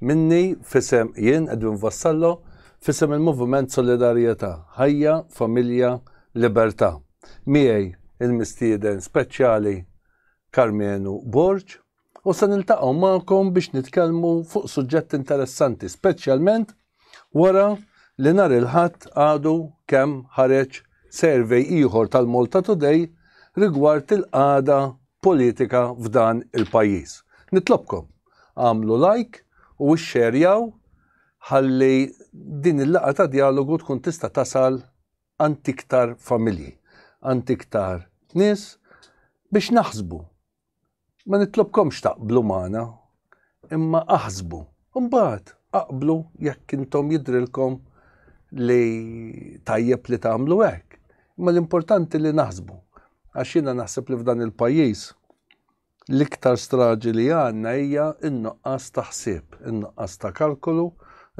Minni, f'isem, jien, Edwin Vassallo, f'isem il-Moviment Solidarjetà, Ħajja, Familja, Libertà. Miegħi il-mistieden speċjali Karmenu Borg u se niltaqgħu magħkom biex nitkellmu fuq suġġett interessanti speċjalment wara li nhar il-Ħadd għadu kemm ħareġ survey ieħor tal-Malta Today rigward il-qagħda politika f'dan il-pajjiż. Nitlobkom Agħmlu like u ixxerjaw ħalli din il-laqgħa ta' djalogu tkun tista' tasal għand iktar familji, għand iktar nies biex naħsbu. Ma nitlobkomx taqblu magħna, imma aħsbu. Imbagħad aqblu jekk intom jidrilkom li tajjeb li tagħmlu hekk. Imma l-importanti li naħsbu. Għax jiena naħseb li f'dan il-pajjiż L-iktar straġi li għandna hija n-nuqqas ta' ħsieb, in-nuqqas ta' kalkolu,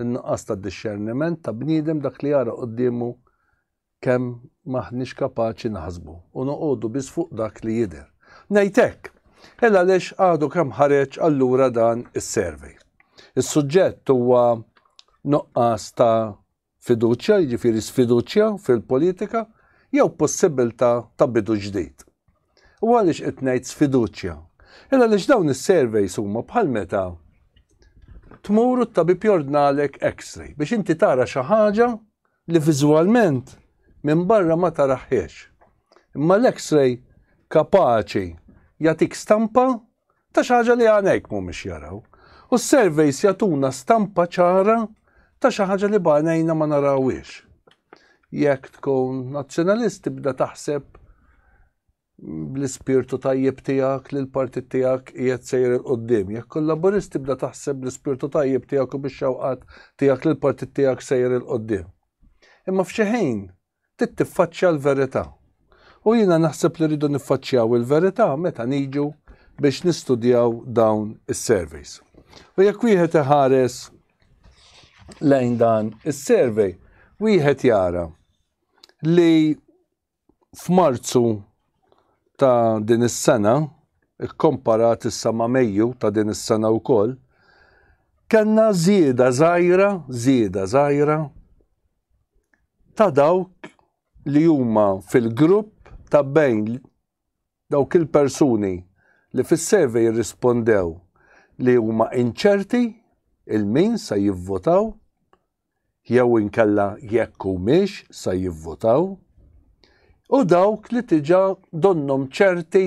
in-nuqqas ta' dixxerniment ta' bniedem dak li jara quddiemu kemm m'aħniex kapaċi naħsbu u noqogħdu biss fuq dak li jidher. Ngħid hekk, il għaliex għadu kemm ħareġ allura dan is-survey. Is-suġġett huwa nuqqas ta' Fiduċja, jiġifieri sfiduċja fil-politika jew possibbiltà ta' bidu ġdid. U għaliex qed ngħid sfiduċja? Il għaliex dawn is-surveys huma bħal meta tmur u t-tabib jordnalek x-ray biex inti tara xi ħaġa li viżwalment minn barra ma taraħħiex. Imma l-x-ray kapaċi jagħtik stampa Ta' xi ħaġa li għajnejk mhumiex jaraw. U s-surveys jagħtuna stampa ċara ta' xi ħaġa li b'għajnejna ma narawhiex. Jekk tkun nazzjonalist tibda taħseb bl-ispirtu tajjeb tiegħek li l-partit tiegħek qiegħed sejr il qudiem Jekk kun laburist tibda taħseb bl-ispirtu tajjeb tiegħek u bix-xewqat tiegħek li l-partit tiegħek sejr il qudiem Imma f'xi ħin trid tiffaċċja l-verità. U jiena naħseb li rridu niffaċċjaw il-verità meta niġu biex nistudjaw dawn is-surveys. U jekk wieħed iħares lejn dan is-survey, wieħed jara li f'Marzu ta' din is-sena, ikkomparat issa ma' Mejju ta' din is-sena wkoll, kellna żieda żgħira, żieda żgħira ta' dawk li huma fil-grupp ta' bejn dawk il-persuni li fis-survey irrispondew li huma inċerti 'l min se jivvotaw jew inkella jekk humiex se jivvotaw u dawk li diġà donnhom ċerti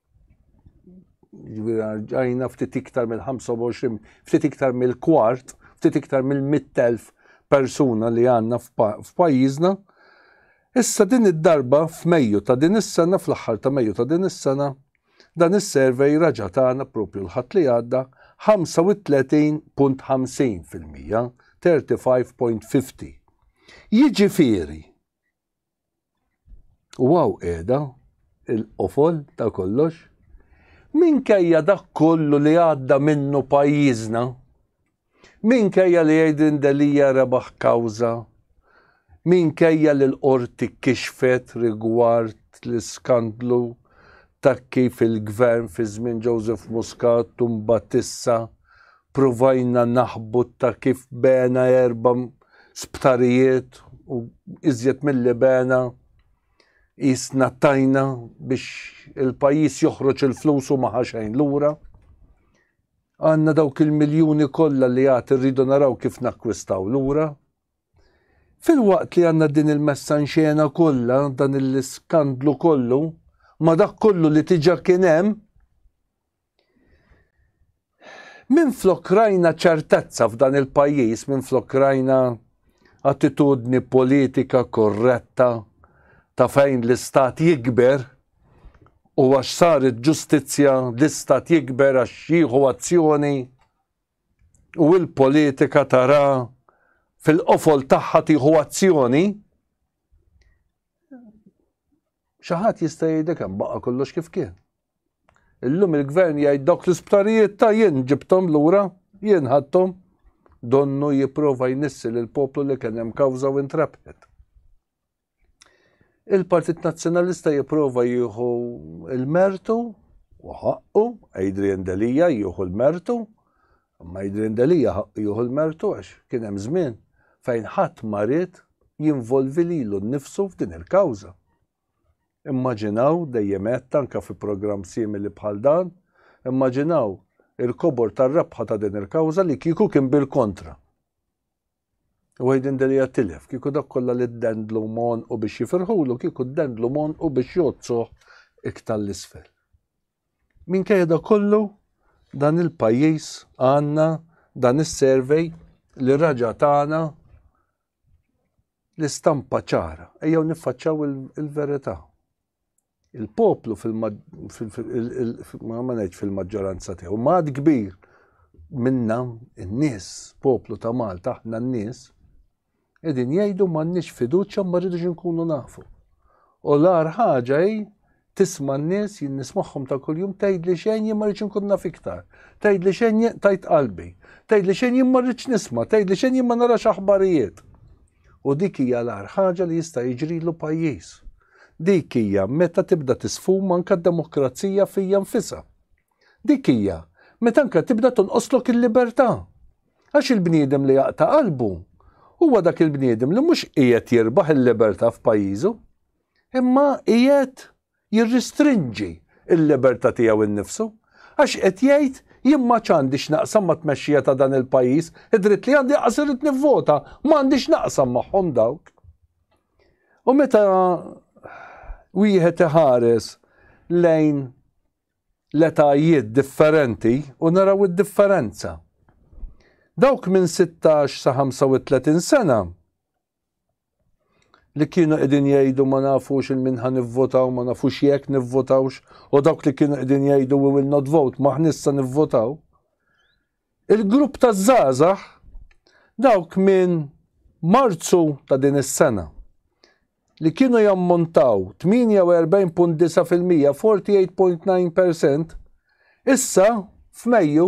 ġajna ftit iktar mill-25, ftit iktar mill-kwart, ftit iktar mill-100,000 persuna li għanna f'pajjiżna. Issa din id-darba f'Mejju ta' din is-sena, fl-aħħar ta' Mejju ta' din is-sena, dan is-survey raġa' tagħna propju l-Ħadd li għadda 35.50%, 35.50. Jiġifieri, U għaw qiegħda il-qofol ta' kollox minkejja dak kollu li għadda minnu pajjiżna, minkejja li Aiden Delija rebaħ kawza, minkejja li l-qorti kixfet rigward l-iskandlu ta' kif il-gvern fi żmien Joseph Muscat tumbatissa provajna naħbu ta' kif bena erba sptarijiet u iżjed milli bena jisna tajna biex il-pajis joħroġ il-flus u maħaxajn lura. Għanna dawk il-miljoni kollha li għat irridu naraw kif nakkwistaw lura. Fil-waqt li għanna din il-messa nxena kollha dan il-skandlu kollu, ma dak kollu li tiġa kien hemm, Minflok rajna ċertezza f'dan il-pajjiż, minflok rajna attitudni politika korretta ta' fejn l-istat jikber u għax saret ġustizzja l-istat jikber għax jieħu azzjoni u l-politika tara fil-qofol tagħha tieħu azzjoni. Xi ħadd jista' jgħidlek hemm baqa' kollox kif kien. Illum il-gvern jgħid dawk l-isptarijiet ta' jien ġibthom lura, jien ħadthom, donnu jipprova jnissi lil poplu li kien hemm kawża u intrabħet. Il-Partit Nazzjonalista jipprova jieħu l-mertu u ħaqqu, Adrian Delija jieħu l-mertu, imma Adrian Delija jieħu l-mertu għax kien hemm żmien fejn ħadd marid jinvolvi lilu nnifsu f'din il-kawża. Immaġinaw, dejjem għedt anke fi programm simili bħal dan, immaġinaw il-kobor tar-rebħa ta' din il-kawża li kieku kien bil-kontra. Wieħed indirija tilef, kieku dak kollha li ddendlu mon u biex jifirħulu, kieku ddendlu mon u biex jozzuh iktar l-isfel. Minkejja da kollu, dan il-pajjiż għandna dan is-survey li raġa tagħna l-istampa ċara, ejjew niffaċċaw il-verità. Il-poplu fil-maġġoranza tiegħu, maħad kbir minna n-nies, poplu ta' Malta, aħna n-nies, edin jgħidu m'għandniex fiduċja ma rridux nkunu nafu. U l-ar ħaġa hi Tisma' n-nies, jien nismagħhom ta' kuljum, tgħidli xejn jien ma rridx inkun naf iktar. Tgħidli xejn jien tajt qalbi. Tgħidli xejn jien ma rridx nisma', tgħidli xejn jien ma narax aħbarijiet. U dik hija l-agħar ħaġa li jista' jiġrilu pajjiż. Dik hija meta tibda tisfuma anke d-demokrazija fija nfisha. Dik hija meta anke tibda tonqoslok il-libertà. Għax il-bniedem li jaqta' qalbu huwa dak il-bniedem li mhux qiegħed jirbaħ il-libertà f'pajjiżu. imma qiegħed jirristrinġi l-libertà tiegħu nnifsu għax qed jgħid jien ma ċandi x'naqsam ma tmexxija ta' dan il-pajjiż, id-dritt li għandi qas irid nivvota, m'għandi x'naqsam magħhom dawk. U meta wieħed iħares lejn l-etajiet differenti u naraw id-differenza. Dawk minn 16 sa 35 sena li kienu qegħdin jgħidu ma nafux il minħa nivvotaw, ma nafux jekk nivvotawx, u dawk li kienu qegħdin jgħidu we will not vote, ma ħnissa nivvotaw. Il-grupp ta' żgħażagħ dawk minn Marzu ta' din is-sena li kienu jammontaw 48.9% 48.9% issa f'Mejju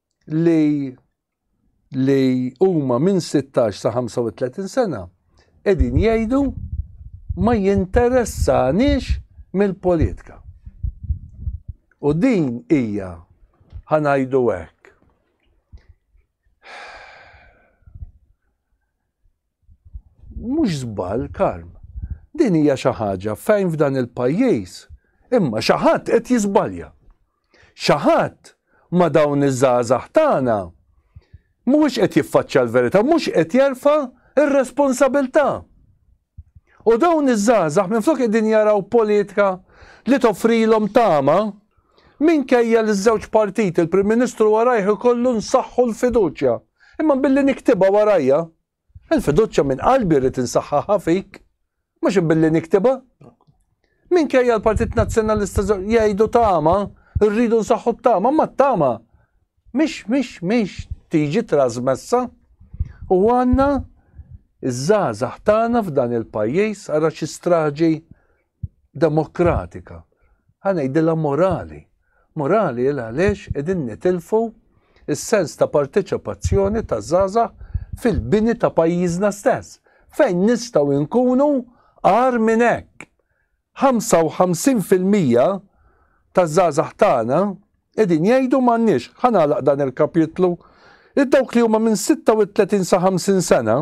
li li huma minn 16 sa 35 sena qegħdin jgħidu ma jinteressanix mill-politika. U din hija ħanajdu hekk. Mhux żball, Karm. Din hija xi ħaġa fejn f'dan il-pajjiż imma xi ħadd qed jiżbalja. Xi ħadd ma' dawn iż-żgħażagħ tagħna mhuwiex qed jiffaċċja l-verità, mhux qed jerfa' r-responsabilità. U dawn iż-żgħażagħ minflok qegħdin jaraw politika li toffrilhom tama, minkejja li ż-żewġ partiti l-Prim Ministru warajh ikollu nsaħħu l-fiduċja. Imma billi niktibha warajja, il-fiduċja minn qalbi rrid insaħħaħha fik, mhux billi niktibha. Minkejja l-Partit Nazzjonalista jgħidu tama, rridu nsaħħu t-tama, imma t-tama mhix mhix mhix tiġi trasmessa u għandna iż-żgħażagħ tagħna f'dan il-pajjiż ara xi straġi demokratika. Ħanejdilha morali. Morali il għaliex qegħdin nitilfu s-sens ta' parteċipazzjoni taż-żgħażagħ fil-bini ta' pajjiżna stess. Fejn nistgħu nkunu agħar minn hekk? 55 fil-mija taż-żgħażagħ tagħna qegħdin jgħidu m'għandniex, ħa nagħlaq dan il-kapitlu, li dawk li huma minn 36 sa 50 sena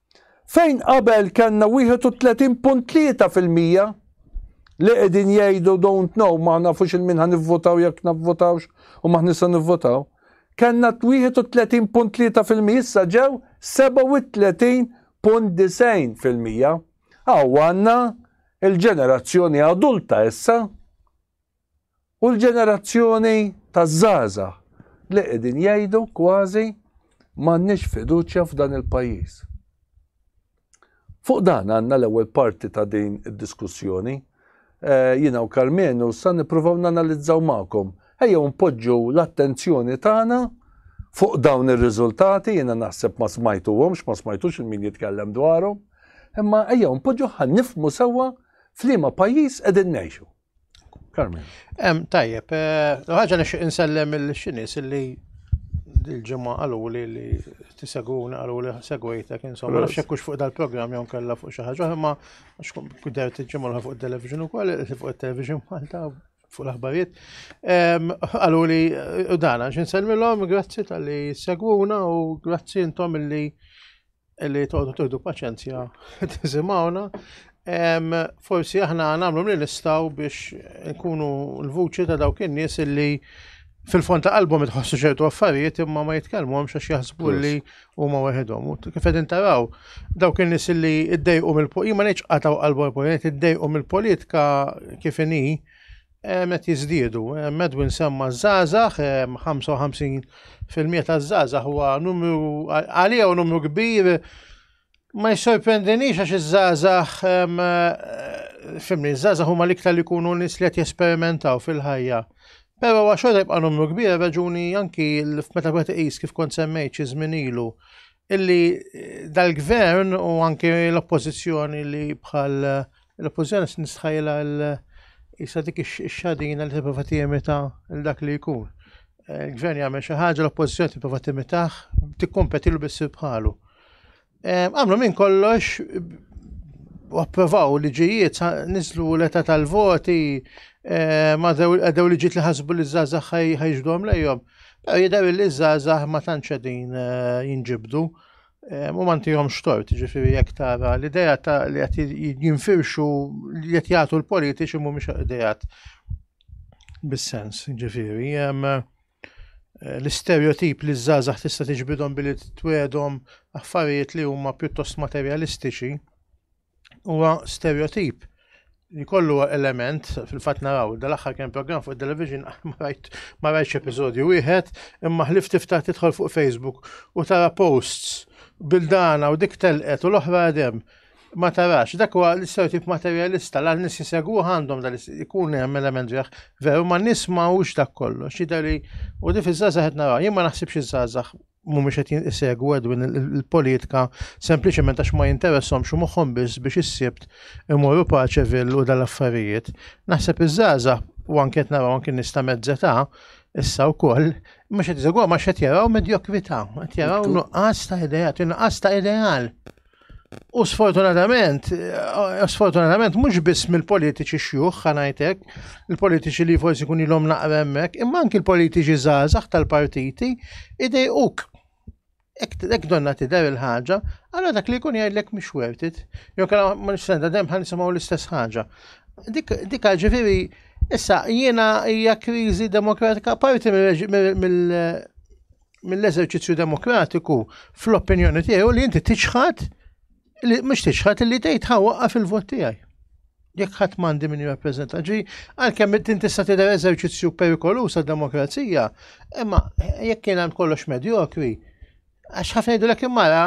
Fejn qabel kellna 31.3 fil-mija li qegħdin jgħidu don't know ma nafux il-min ħa nivvotaw jekk navvotawx u maħni se nivvotaw. Kellna 31.3 fil-mija issa ġew 37.90 fil-mija. Aw għandna il-ġenerazzjoni adulta issa. U l-ġenerazzjoni taż-żgħażagħ li qegħdin jgħidu kważi m'għandniex fiduċja f'dan il-pajjiż. Fuq dan għandna l-ewwel parti ta' din id-diskussjoni. Jiena u Karmenu sa nippruvaw nanalizzaw magħkom. Ejjew npoġġu l-attenzjoni tagħna fuq dawn ir-riżultati, jiena naħseb ma smajtuhomx, ma smajtux il-min jitkellem dwarhom, imma ejjew npoġġu ħa nifhmu sewwa f'liema pajjiż qegħdin ngħixu. Em, tajjeb, eh, ħaġa nixtieq insellem il-xinis li il-ġimgħa qalu li li tisegwuna qalu li segwejtek insomma nafx hekk fuq dal-programm jew kellha fuq xi ħaġa imma għax kuder tiġġimgħu fuq it-television ukoll fuq it-television Malta fuq l-aħbarijiet. Qalu li eh, dana x'insellmilhom grazzi tal-li segwuna u grazzi intom li li toqgħodu tieħdu paċenzja tisimgħuna. Forsi aħna nagħmlu li nistgħu biex nkunu l-vuċi ta' dawk in-nies li fil-fond ta' qalbhom itħossu ċertu affarijiet imma ma jitkellmuhomx għax jaħsbu li huma waħedhom. Kif qegħdin taraw, dawk in-nies li ddejqu mill-politika, ma ngħidx qataw qalbhom il-politika, ddejqu mill-politika kif inhi, qed jiżdiedu. Medwin semma ż-żgħażagħ, 55% taż-żgħażagħ huwa numru għalija u numru kbir ma jissorprendinix għax iż-żgħażagħ fimni, iż-żgħażagħ huma l-iktar li jkunu nies li qed jesperimentaw fil-ħajja. Però għax xorta jibqa' numru kbir raġuni anki meta wieħed iqis kif kont semmejt xi żmien ilu illi dal-gvern u anke l-oppożizzjoni li bħal l-oppożizzjoni nistħajla jisa dik ix-xadina li tipprova timita dak li jkun. Eh, il-gvern jagħmel xi ħaġa l-oppożizzjoni tipprova timitaħ tikkompetilu biss bħalu. Eh, għamlu minn kollox u approvaw liġijiet nislu l-età tal-voti eh, ma dew liġijiet li ħasbu li żgħażagħ ħajġdhom lejhom. Pero jider li żgħażagħ ma tantx qegħdin eh, jinġibdu eh, u ma ntihomx tort, ġifieri jekk tara l-idea ta' li qed jinfirxu li qed jagħtu l-politiċi mhumiex idejat bis-sens, ġifieri eh, l-istereotip li żgħażagħ tista' tiġbidhom billi twedhom affarijiet li huma pjuttost materjalistiċi huwa stereotip li kollu element fil-fatt naraw dal-aħħar kien programm fuq television ma rajt ma rajtx episodju wieħed imma ħlif tiftaħ tidħol fuq Facebook u tara posts bildana u dik telqet u l-oħra għadem ma tarax, dak huwa l-istereotip materjalista, l nis jisegwu għandhom dal ikun hemm element ġeħ, veru ma nis ma hux dak kollox, jidher li u di fiż-żgħażagħ qed naraw, jien ma naħsibx iż-żgħażagħ mhumiex qed isegwu Edwin il-politika sempliċement għax ma jinteressahomx u moħħhom biss biex is-Sibt imorru Paċeville u dal-affarijiet. Naħseb iż-żgħażagħ u anke qed naraw anke nies ta' mezz età issa wkoll mhux qed isegwhom għax qed jaraw medjokrità, qed jaraw nuqqas ta' ideat, nuqqas ta' ideal. U sfortunatament, eh, sfortunatament mhux biss mill-politiċi xjuħ ħanajtek, il-politiċi li forsi kun ilhom naqra hemmhekk, imma anki l-politiċi żgħażagħ tal-partiti idejquk. Ek donna tidher il-ħaġa, għara dak li jkun jgħidlek mhux worth it. Jew kellha ma nistenda dem ħan nisimgħu l-istess ħaġa. Dik ġifieri issa jiena hija kriżi demokratika parti mill mill-eżerċizzju demokratiku fl-opinjoni tiegħu li inti tiċħad li mhux tiċħad li tgħid ħawqa fil-vot tiegħi. Jekk ħadd m'għandi min jirrappreżenta ġi, għalkemm inti tista' tidher eżerċizzju perikoluż għad-demokrazija, imma jekk kien għand kollox medjokri, għax ħafna jgħidu l mara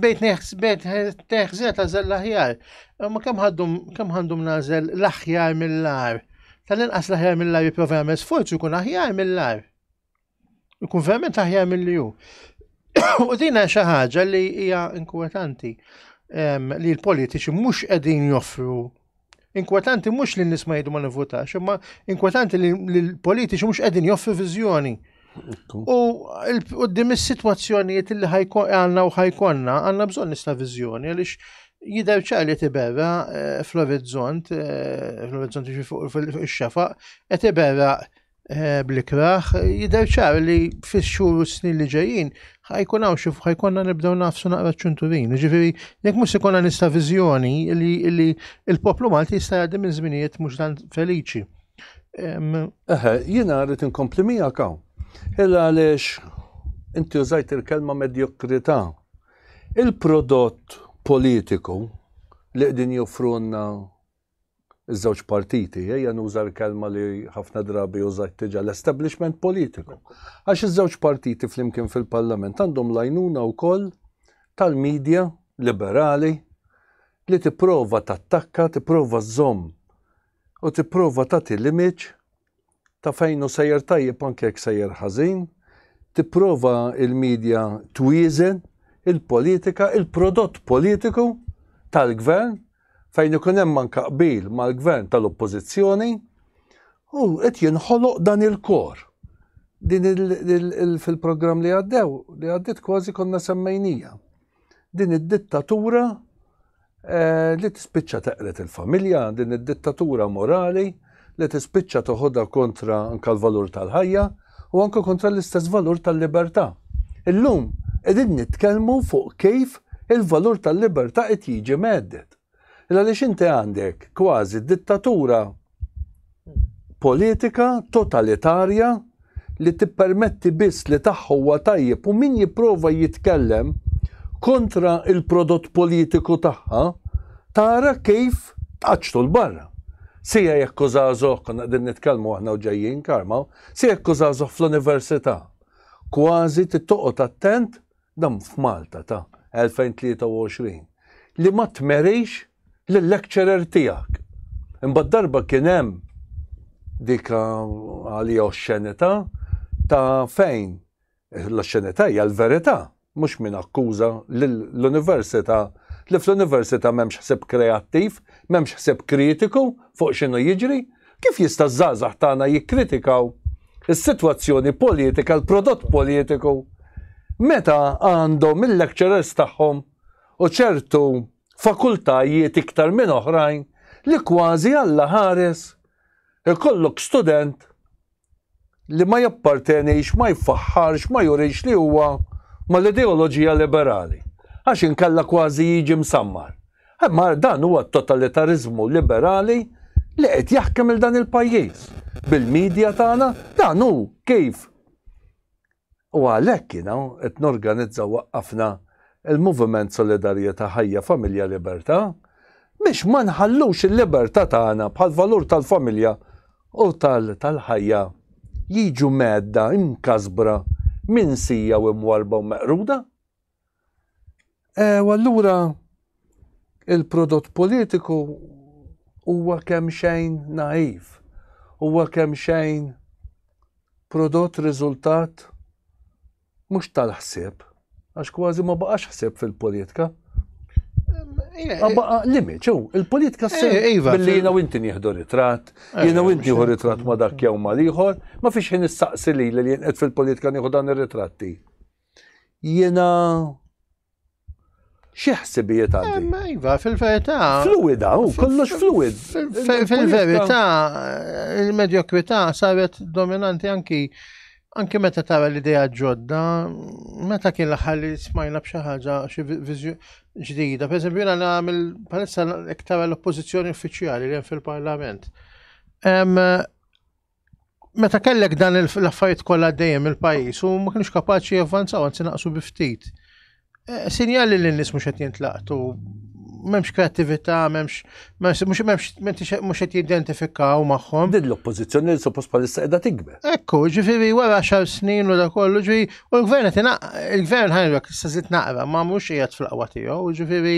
bejt neħzet għażel l-aħjar. Ma kemm għandhom nażel l-aħjar mill-ar Tal-inqas l-aħjar mill-ar jipprova jagħmel sforzu jkun aħjar mill-ar. Ikun verament aħjar mill-li hu. U dina xi ħaġa li hija inkwetanti li l-politiċi mhux qegħdin joffru Inkwetanti mhux li n-nies ma jgħidu ma nivvutax, imma inkwetanti li l-politiċi mhux qegħdin joffru viżjoni. U qoddim is-sitwazzjonijiet li għandna u ħajkonna, għandna bżonn nista' viżjoni għaliex jider ċali tibera eh, fl-orizzont, eh, fl-orizzont fuq il-xafaq, qed tibera eh, bl-ikraħ, jider ċar li fix-xhur u snin li ġejjin ħajkun hawn xi ħajkonna nibdew nafsu naqra ċunturin. Ġifieri jekk mhux ikonna nista' viżjoni li l-poplu Malti jista' jgħaddi minn żminijiet mhux dan feliċi. Eħe, jiena rrid inkompli miegħek hawn. Illa għaliex inti użajt il-kelma medjokrità. Il-prodott politiku li qegħdin joffrunna iż-żewġ partiti, ejja nuża l-kelma li ħafna drabi użajt tiġa l-establishment politiku. Għax iż-żewġ partiti flimkien fil-Parlament għandhom lajnuna wkoll tal-medja liberali li tipprova tattakka, tipprova żomm u tipprova tagħti l-image ta' fejn hu sejjer tajjeb anke jekk sejjer ħażin, tipprova il-media twieżen il-politika, il-prodott politiku tal-gvern fejn ikun hemm anke qbil mal-gvern tal-oppożizzjoni u qed jinħoloq dan il-kor. Din fil-programm li għaddew li għaddiet kważi konna semmejnija. din id-dittatura eh, li tispiċċa teqret il-familja, din id-dittatura morali li tispiċċa toħodha kontra anka l-valur tal-ħajja u anka kontra l-istess valur tal-libertà. Illum qegħdin nitkellmu fuq kif il-valur tal-libertà qed jiġi meddet. Illa li xinti għandek kważi dittatura politika totalitarja li tippermetti biss li tagħha huwa tajjeb u min jipprova jitkellem kontra il-prodott politiku tagħha tara kif tqaċċtu l-barra. Sija jekk użażoh, konna qegħdin nitkellmu aħna u ġejjin karma, sija jekk użażoh fl-università. Kważi tittoqgħod attent dan f'Malta ta' 2023, li ma tmerix lil-lecturer tiegħek. Imbagħad darba kien hemm dik għalija oxxenità ta' fejn l-oxxenità hija l-verità, mhux min akkuża lill-Università li fl-Università m'hemmx ħsieb kreattiv, m'hemmx ħsieb kritiku fuq x'inhu jiġri, Kif jista' ż-żgħażagħ tagħna jikkritikaw is-sitwazzjoni politika, l-prodott politiku, meta għandhom il-lecturers tagħhom u ċertu fakultajiet iktar minn oħrajn li kważi Alla ħares ikollok student li ma jappartenix, ma jfaħħarx, ma jurix li huwa mal-ideoloġija liberali, għax inkella kważi jiġi msammar. Imma dan huwa t-totalitariżmu liberali li qed jaħkem il dan il-pajjiż. Bil-media tagħna dan hu kif U għalhekk jiena qed norganizza u waqqafna l-Moviment Solidarjetà Ħajja Familja Libertà biex ma nħallux il-libertà tagħna bħall-valur tal-familja u tal-ħajja jiġu mhedda, imkasbra, minsija u mwarrba u meqruda. E, u allura il-prodott politiku huwa kemm xejn naiv, huwa kemm xejn prodott riżultat mhux tal-ħsieb, għax kważi ma baqax ħsieb fil-politika. Baqa limit, ġew, il-politika s eh, iva, billi jina u inti nieħdu ritrat, eh, jina u inti nieħu ritrat ma dak jew ma liħor, ma fiex jien nistaqsi li li jien fil-politika nieħu dan ir-ritratti. Jiena xi ħsibijiet għandi? Eh, ma iva, fil-verità. Fluida, u kollox fluid. Fil-verità, il-medjokwità saret dominanti anki anki meta tara l-idea ġodda, meta kien l-aħħar li smajna b'xi ħaġa xi ġdida, per eżempju jiena nagħmel palissa iktar l-oppożizzjoni uffiċjali li hemm fil-Parlament. meta kellek dan l-affarijiet kollha għaddejjem il-pajjiż u ma kienx kapaċi javvanzaw anzi naqsu bi ftit. Eh, sinjali li n-nies mhux qed jintlaqtu m'hemmx kreattività, m'hemmx mhux m'hemmx mhux qed jidentifikaw magħhom. Din l-oppożizzjoni li suppost bħalissa qiegħda tikber. Ekku, ġifieri wara xar snin u da kollu ġifieri u l-gvern qed il-gvern ħajrek se żid naqra ma mhux qiegħed fl-qwa tiegħu, ġifieri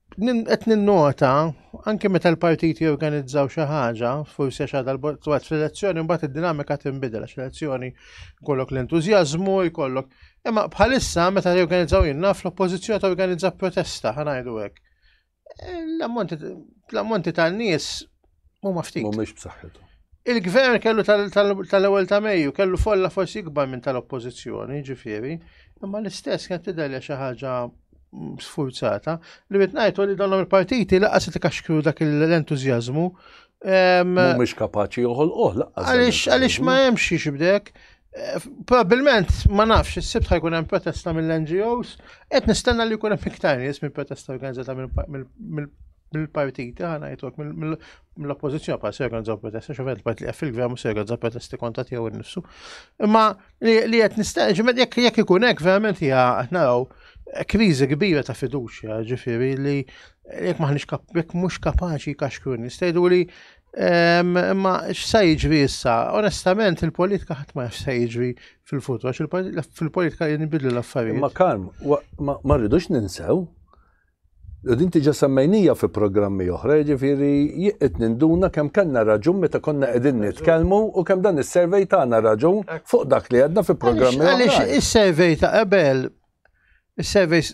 Qed ninnota, anke meta l-partiti jorganizzaw xi ħaġa, forsi għax għadha l-botwat fl-elezzjoni, mbagħad id-dinamika tinbidel għax l-elezzjoni jkollok l-entużjażmu, jkollok. Imma bħalissa meta jorganizzaw jien naf l-oppożizzjoni torganizza protesta, ħanajdu hekk. Eh, l-ammonti tan-nies Huma ftit. Mhumiex b'saħħithom. Il-gvern kellu tal-ewwel ta' Mejju kellu folla forsi ikbar minn tal-oppożizzjoni, ġifieri, imma l-istess kien tidher xi ħaġa mm, sfurzata li qed ngħidu li dawn il-partiti laqas li kaxkru dak l-entużjażmu. Mhumiex kapaċi joħolqoh laqas. Għaliex għaliex ma hemmx xi bdek. Eh, Probabilment ma nafx is-sibt ħajkun hemm protesta mill-NGOs, qed nistenna li jkun hemm iktar nies mill-protesta organizzata mill mill-partiti ħana jitwek mill-oppozizjoni pa' serga nżaw protesta, xofet il-part li għaffil gvern u serga nżaw protesta konta tijaw il-nifsu. Imma li għet nistaġ, jek jek ikun ek verament hija naraw krizi kbira ta' fiduċja, ġifiri li jek maħnix jek mux kapaċi kaxkrun, jistajdu li imma x'sa jiġri issa, onestament il-politika ħadd ma x'sa jiġri fil-futur, għax fil-politika jinbidlu l-affarijiet. Ma karm, ma rridux ninsew U din diġà semmejnija fi programmi oħra, jiġifieri jien qed ninduna kemm kellna raġun meta konna qegħdin nitkellmu u kemm dan is-survey tana raġun fuq dak li għedna fi programmi oħrajn. Għaliex is-survey ta' qabel, is-surveys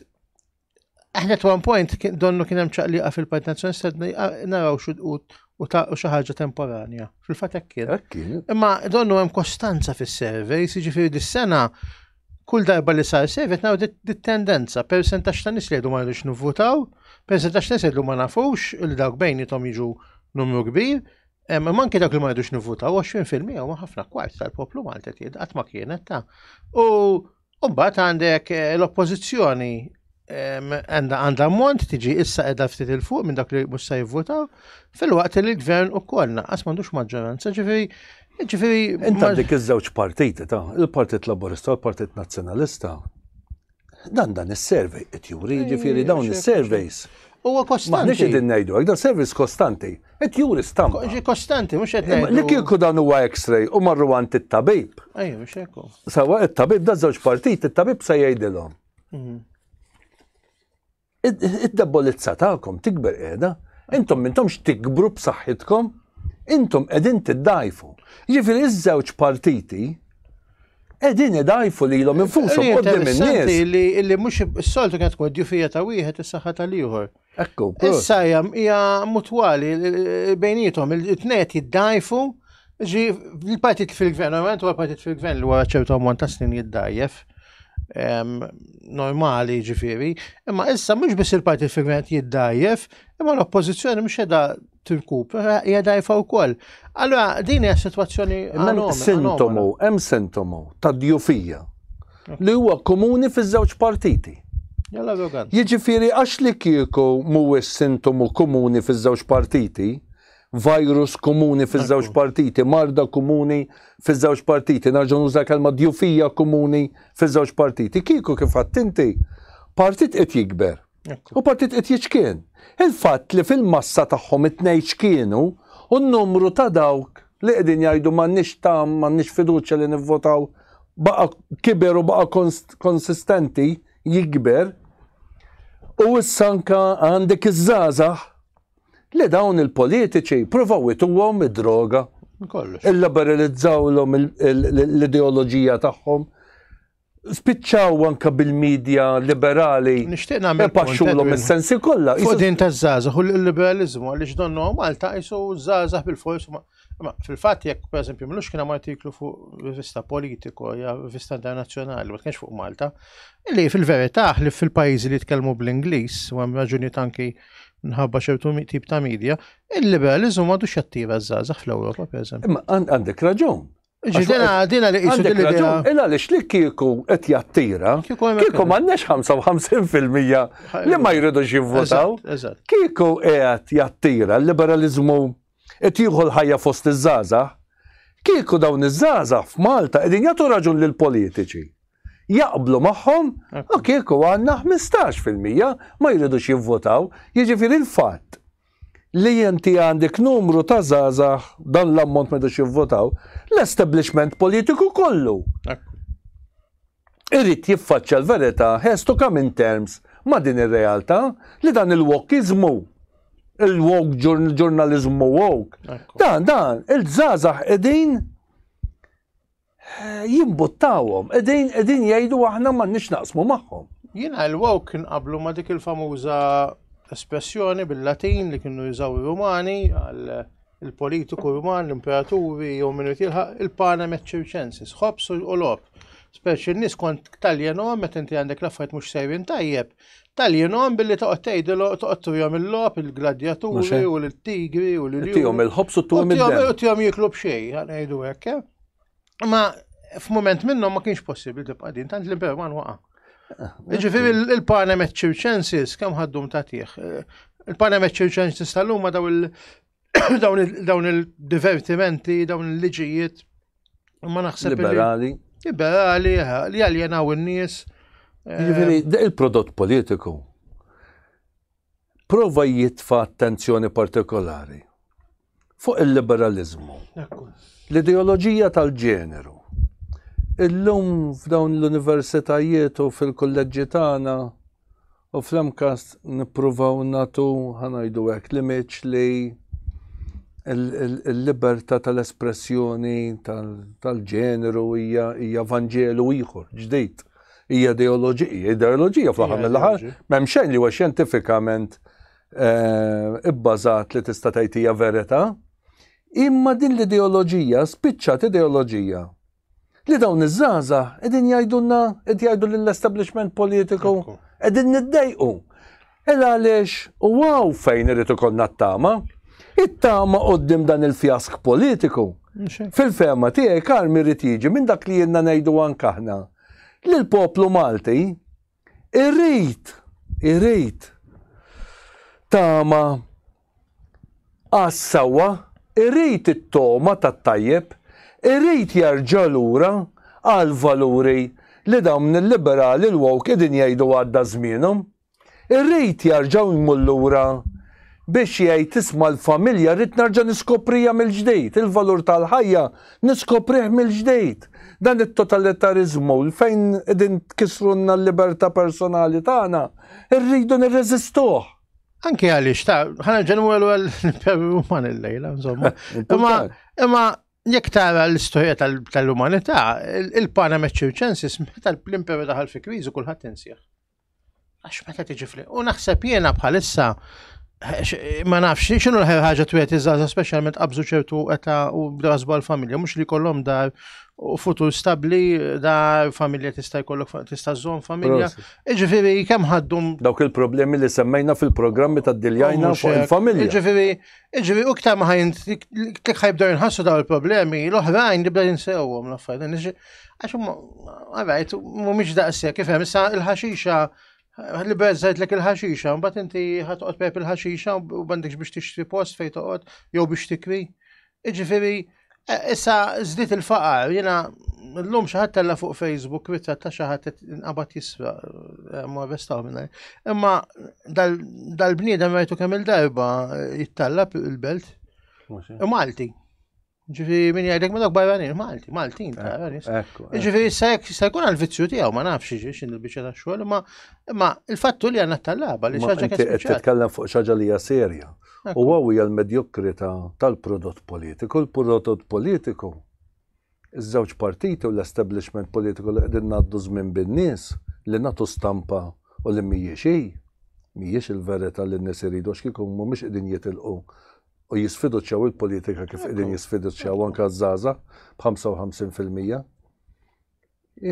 Aħna at one point donnu kien hemm ċaqliqa fil-Partit Nazzjonalista naraw u ta' xi ħaġa temporanja. Fil-fatt hekk kien. Imma donnu hemm kostanza fis-surveys, jiġifieri dis-sena kull darba li sar sejf qed naraw dit-tendenza, persentax ta' nies li jgħidu ma rridux nivvutaw, persentax ta' nies jgħidu ma nafux li dawk bejnietom jiġu numru kbir, imma anke dawk li ma rridux nivvutaw 20% huma ħafna kwart tal-poplu Malti qed qatt ma kienet ta' u mbagħad għandek eh, l-oppożizzjoni għanda għanda mont tiġi issa edha ftit il-fuq minn dak li mhux se jivvotaw, fil-waqt li l-gvern u koll naqqas m'għandux maġġoranza, ġifieri ġifieri. Inta dik iż-żewġ partiti ta' il-Partit Laburista u l-Partit Nazzjonalista. Dan dan is-survey qed juri, ġifieri dawn is-surveys. Huwa kostanti. Maħniex qegħdin ngħidu hekk, dan servizz kostanti. Qed juri stampa. Ġi kostanti, mhux qed ngħidu. Li kieku dan huwa X-ray u marru għand it-tabib. Ejja, mhux hekk. Sawa it-tabib da żewġ partit, it-tabib se jgħidilhom. Mhm. Id-debolizza tagħkom tikber qiegħda, intom mintomx tikbru b'saħħitkom, intom qegħdin tiddajfu. Ġifieri iż-żewġ partiti Edin idajfu li l-om infusom għoddim il-nies. Li mux s-soltu kienet tkun djufija ta' wieħed is-saħħa tal-ieħor. Ekku. Issa hija mutwali bejnietom il-tnet jiddajfu ġi l-partit fil-gvern, normalment huwa partit fil-gvern li wara ċertu ammont ta' snin jiddajjef normali ġifiri, imma issa mhux biss il-partit fil-gvern jiddajjef, imma l-oppożizzjoni mhux edha tirkupra hija dajfa wkoll. Allora din hija sitwazzjoni sintomu, hemm sintomu ta' djufija li huwa komuni fiż-żewġ partiti. Jiġifieri għax li kieku mhuwiex sintomu komuni fiż-żewġ partiti, virus komuni fiż-żewġ partiti, marda komuni fiż-żewġ partiti, nerġa' nuża kelma djufija komuni fiż-żewġ partiti. Kieku kif għattinti, partit qed jikber U partit qed jiċkien. Il-fatt li fil-massa tagħhom it-tnejn ċkienu u n-numru ta' dawk li qegħdin jgħidu m'għandniex tagħm, m'għandniex fiduċja li nivvotaw baqa' kiber u baqa' konsistenti jikber. U issa anka għandek iż-żgħażagħ li dawn il-politiċi provaw ituhom id-droga. Kollox. Illiberalizzawlhom l-ideoloġija tagħhom. Spiċċaw anke bil-media liberali. Nixtieq nagħmel. Ipaxxulhom is-sensi kollha. Fuq din taż-żgħażagħ u l-liberaliżmu għaliex donnu Malta qisu żgħażagħ bil-fors Ma fil-fatt jekk pereżempju mlux kien hemm artiklu fuq rivista politiko ja rivista internazzjonali, ma kienx fuq Malta, li fil-verità li fil-pajjiżi li jitkellmu bl-Ingliż u hemm raġuni tanki nħabba ċertu tip ta' media, il-liberalizmu m'għadux jattira żgħażagħ fl-Ewropa pereżempju. Imma għandek raġun. Ġidina, dina li jisu dil idea Illa li xlik kieku qed jattira, kieku m'għandniex 55% li ma jridux jivvotaw. Kieku qiegħed jattira l-liberalizmu qed jieħu l-ħajja fost iż-żaża, kieku dawn iż-żaża f'Malta qegħdin jagħtu raġun lil politiċi. Jaqblu magħhom, u kieku għandna 15% ma jridux jivvotaw, jiġifieri l-fatt li inti għandek numru ta' żgħażagħ dan l-ammont ma jidux jivvotaw, l-establishment politiku kollu irid jiffaċċja l-verità has to come in terms ma' din ir-realtà li dan il-wokiżmu il-woke ġurnaliżmu woke. Dan dan il-żgħażagħ qegħdin jimbuttawhom, qegħdin qegħdin jgħidu aħna m'għandniex naqsmu magħhom. Jiena l-wow kien qablu ma' dik il-famuża espressjoni bil-Latin li kienu jużaw ir-Rumani għal il-politiku Ruman, l-imperaturi jew minn tilħaq il-pana meċċirċensis, ħobs u lob. Speċi n-nis kont taljenom meta inti għandek l-affarijiet mhux sejrin tajjeb, taljenom billi toqgħod tgħidilu toqgħod tuhom il-lob, il-gladjaturi u l-tigri u l-tigri. Tihom il-ħobs u tuhom il-tigri. Tihom jiklu b'xejn, ngħidu hekk. Eh? Ma f'moment minnhom ma kienx possibbli tibqa' din tant l-Imperu ma waqa'. Ġifieri il-Panem Circensis kemm ħaddum tagħtih. Il-Panem Circensis tal-lum ma daw dawn il-divertimenti, dawn il-liġijiet. Ma naħseb. Liberali. Liberali, li għaljenaw in-nies. Ġifieri, eh, il-prodott politiku Prova jitfa' attenzjoni partikolari fuq il-liberaliżmu, l-ideoloġija tal-ġeneru. Illum f'dawn l-universitajiet u fil-kulleġġi tagħna u fl-MCAST nippruvaw nagħtu, ħa ngħidu hekk, l-imiġġ li l-libertà tal-espressjoni tal-ġeneru hija vanġelu ieħor, ġdid. Hija ideoloġija, ideoloġija fl-aħħar mill-aħħar, m'hemm xejn li huwa xjentifikament eh, ibbażat li tista' tgħid hija verità. Imma din l-ideoloġija spiċċat ideoloġija li dawn iż-żaza qegħdin jgħidulna qed jgħidu lill-establishment politiku qegħdin niddejqu. Ed għaliex u hawn fejn irid ikollna t-tama. It-tama quddiem dan il-fjask politiku. Fil-fehma tiegħi Karmi jrid jiġi minn dak li ilna ngħidu anke aħna, li l-poplu Malti irid, irid tama għas-sewwa, irid it-togħma tat-tajjeb, irid jerġa' lura għall-valuri li dawn il-liberali l-woke qegħdin jgħidu għadda żmienhom. Irrid jarġa' jmur lura biex jgħid isma' l-familja rrid narġa' niskoprija mill-ġdid, il-valur tal-ħajja niskoprih mill-ġdid. Dan it-totalitariżmu fejn qegħdin tkissrulna l-libertà personali tagħna rridu nirreżistuh. Anke għaliex ta' ħa nerġa' nimur lura l-Imperu Ruman illejla, insomma. Imma jekk tara l-istorja tal-umanità, il-pana meċċirċensis meta l-Imperu daħal fi kriżi kulħadd insieħ. Għax meta tiġi fli. U naħseb jiena bħalissa ma nafx xinu l-ħer ħaġa twiet iżgħażha speċjalment qabżu ċertu eta u bdasbu għall-familja mhux li kollom dar u futur stabbli dar familja tista' jkollok tista' żżomm familja. Iġifiri, kemm ħaddum dawk il-problemi li semmejna fil-programmi ta' diljajna fuq il-familja. Iġifiri, iġifiri, u ktar ma ħajn tikħajb dar inħassu daw il-problemi l-oħrajn li bda jinsewhom l-affarijiet. Għax huma, għarajt, mhumiex daqshekk, kif hemm, issa il-ħaxixa li bezzajt lek il-ħaxixa, mbagħad inti ħatqgħod pep il-ħaxixa u bandikx biex tixtri post fejn toqgħod jew biex tikwi. Iġifieri, e, issa żdiet il-faqar, jiena llum xi ħadd tella fuq Facebook kwitta ta' xi ħadd inqabad jisra e, ma vestaw minn Imma dal-bniedem rajtu kemm il-darba jittallab il-belt. Malti. Ġifi min jgħidek ma dawk barranin, Malti, Maltin, tara nis. Ġifi issa jekk jista' jkun għal-vizzju tiegħu ma nafx x'in il-biċċa ta' xogħol, imma imma il-fattu li għandna tal-laba li xaġa kif titkellem fuq xaġa li hija serja. U għaw hija l-medjokrita tal-prodott politiku, l-prodott politiku iż-żewġ partiti u l-establishment politiku li qegħdin ngħaddu żmien bin-nies li nagħtu stampa u li mhijiex hi, mhijiex il-verità li n-nies iridu x'kieku mhumiex qegħdin jitilqu u jisfiduċjaw il-politika kif qegħdin jisfiduċjaw anke żgħażagħ b'55%.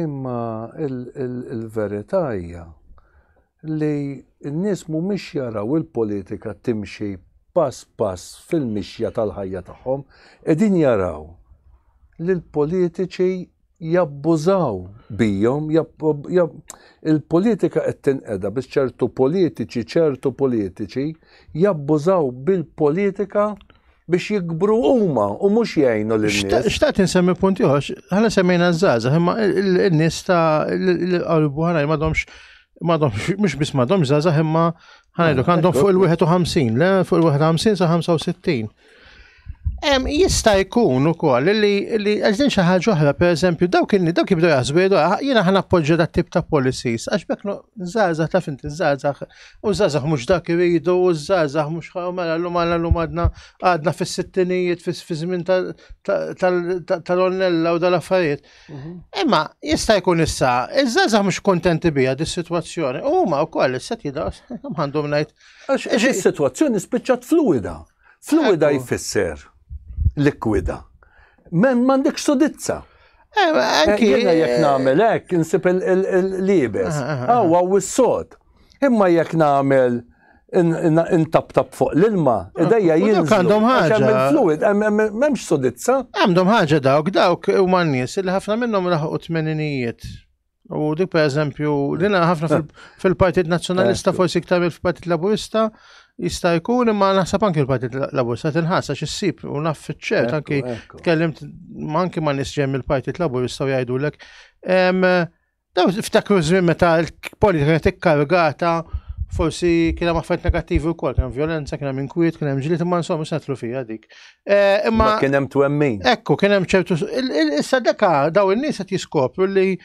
Imma il-verità hija li n-nies mhumiex jaraw il-politika timxi pass pass fil-mixja tal-ħajja tagħhom, qegħdin jaraw li l-politiċi jabbużaw bijhom, il-politika qed tinqeda biex ċertu politiċi, ċertu politiċi jabbużaw bil-politika biex jikbru huma u mhux jgħinu lil nies. Xtaqt insemmi punti ħox, ħana semmejna żgħażagħ, imma n-nies ta' l-qalbu ħana m'għadhomx m'għadhomx mhux biss m'għadhomx żgħażagħ imma ħanajdu għandhom fuq il-51, le fuq il-51 sa 65. Jista' jkun ukoll li li għażin xi ħaġa oħra, pereżempju, dawk in dawk jibdew jaħsbu jgħidu ah, jiena ħa nappoġġja dat tip ta' policies għax bekk żgħażagħ taf inti żgħażagħ u żgħażagħ mhux dak iridu u żgħażagħ mhux mela llum għandna llum għadna għadna fis-sittinijiet fi żmien tal-onnella u dal-affarijiet. Mhm. Imma jista' jkun issa, iż-żgħażagħ mhux kontenti biha dis-sitwazzjoni u huma wkoll issa jidgħu għandhom ngħid Għax is-sitwazzjoni spiċċat fluwida. Fluwida jfisser likwida. Men m'għandek sudizza. Eh, eh, jiena jekk nagħmel hekk insib il-libes. Aw aw is-sod. Imma jekk nagħmel intaptap fuq l-ilma, ah, idejja jinżlu. Għandhom ħaġa. Għandhom fluid, memx sodizza. Għandhom ħaġa dawk, dawk u man nies li ħafna minnhom laħqu tmeninijiet. U dik per eżempju, dina ħafna fil-Partit Nazzjonalista, forsi iktar fil-Partit Laburista, jista' jkun imma naħseb anki l-Partit Laburista tinħassa x'issib u naf fiċ-ċert anki tkellimt anki ma' nies ġejjin mill-Partit Laburista u jgħidulek. Daw ftakru żmien meta l-politika kienet ikkargata forsi kien hemm affarijiet negattivi wkoll, kien hemm violenza, kien hemm inkwiet, kien hemm ġlied imma insomma setlu fija dik. Eh, imma kien hemm twemmin. Ekku, kien hemm ċertu. Issa deka daw in-nies qed jiskopru li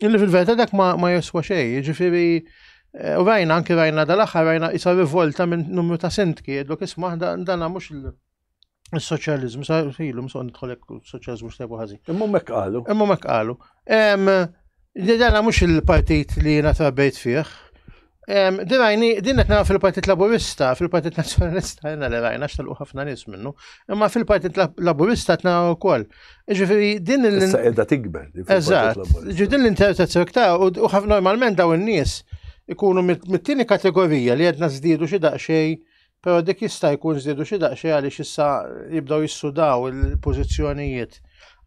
li fil-verità dak ma joswa xejn, jiġifieri eh, u rajna anke rajna dal-aħħar rajna isa rivolta minn numru ta' sintki, jedlok isma' dan mhux il-soċjaliżmu, sa filu msoq nidħolek soċjaliżmu xtebu ħażin. Imma mek qalu. Imma mek qalu. Li dana mhux il-partit li jiena trabbejt fih. Din rajni, din qed nara fil-Partit Laburista, fil-Partit Nazzjonalista jiena li rajna x'tilqu ħafna nies minnu, imma fil-Partit Laburista qed nara wkoll. Ġifieri din il- Issa qiegħda tikber. Eżatt. Ġifieri din l-interpretazzjoni iktar u ħafna normalment dawn in-nies ikunu mit-tieni kategorija li għedna żdiedu xi daqsxejn Però dik jista' jkun żdiedu xi daqsxejn għaliex issa jibdew jissudaw il-pożizzjonijiet.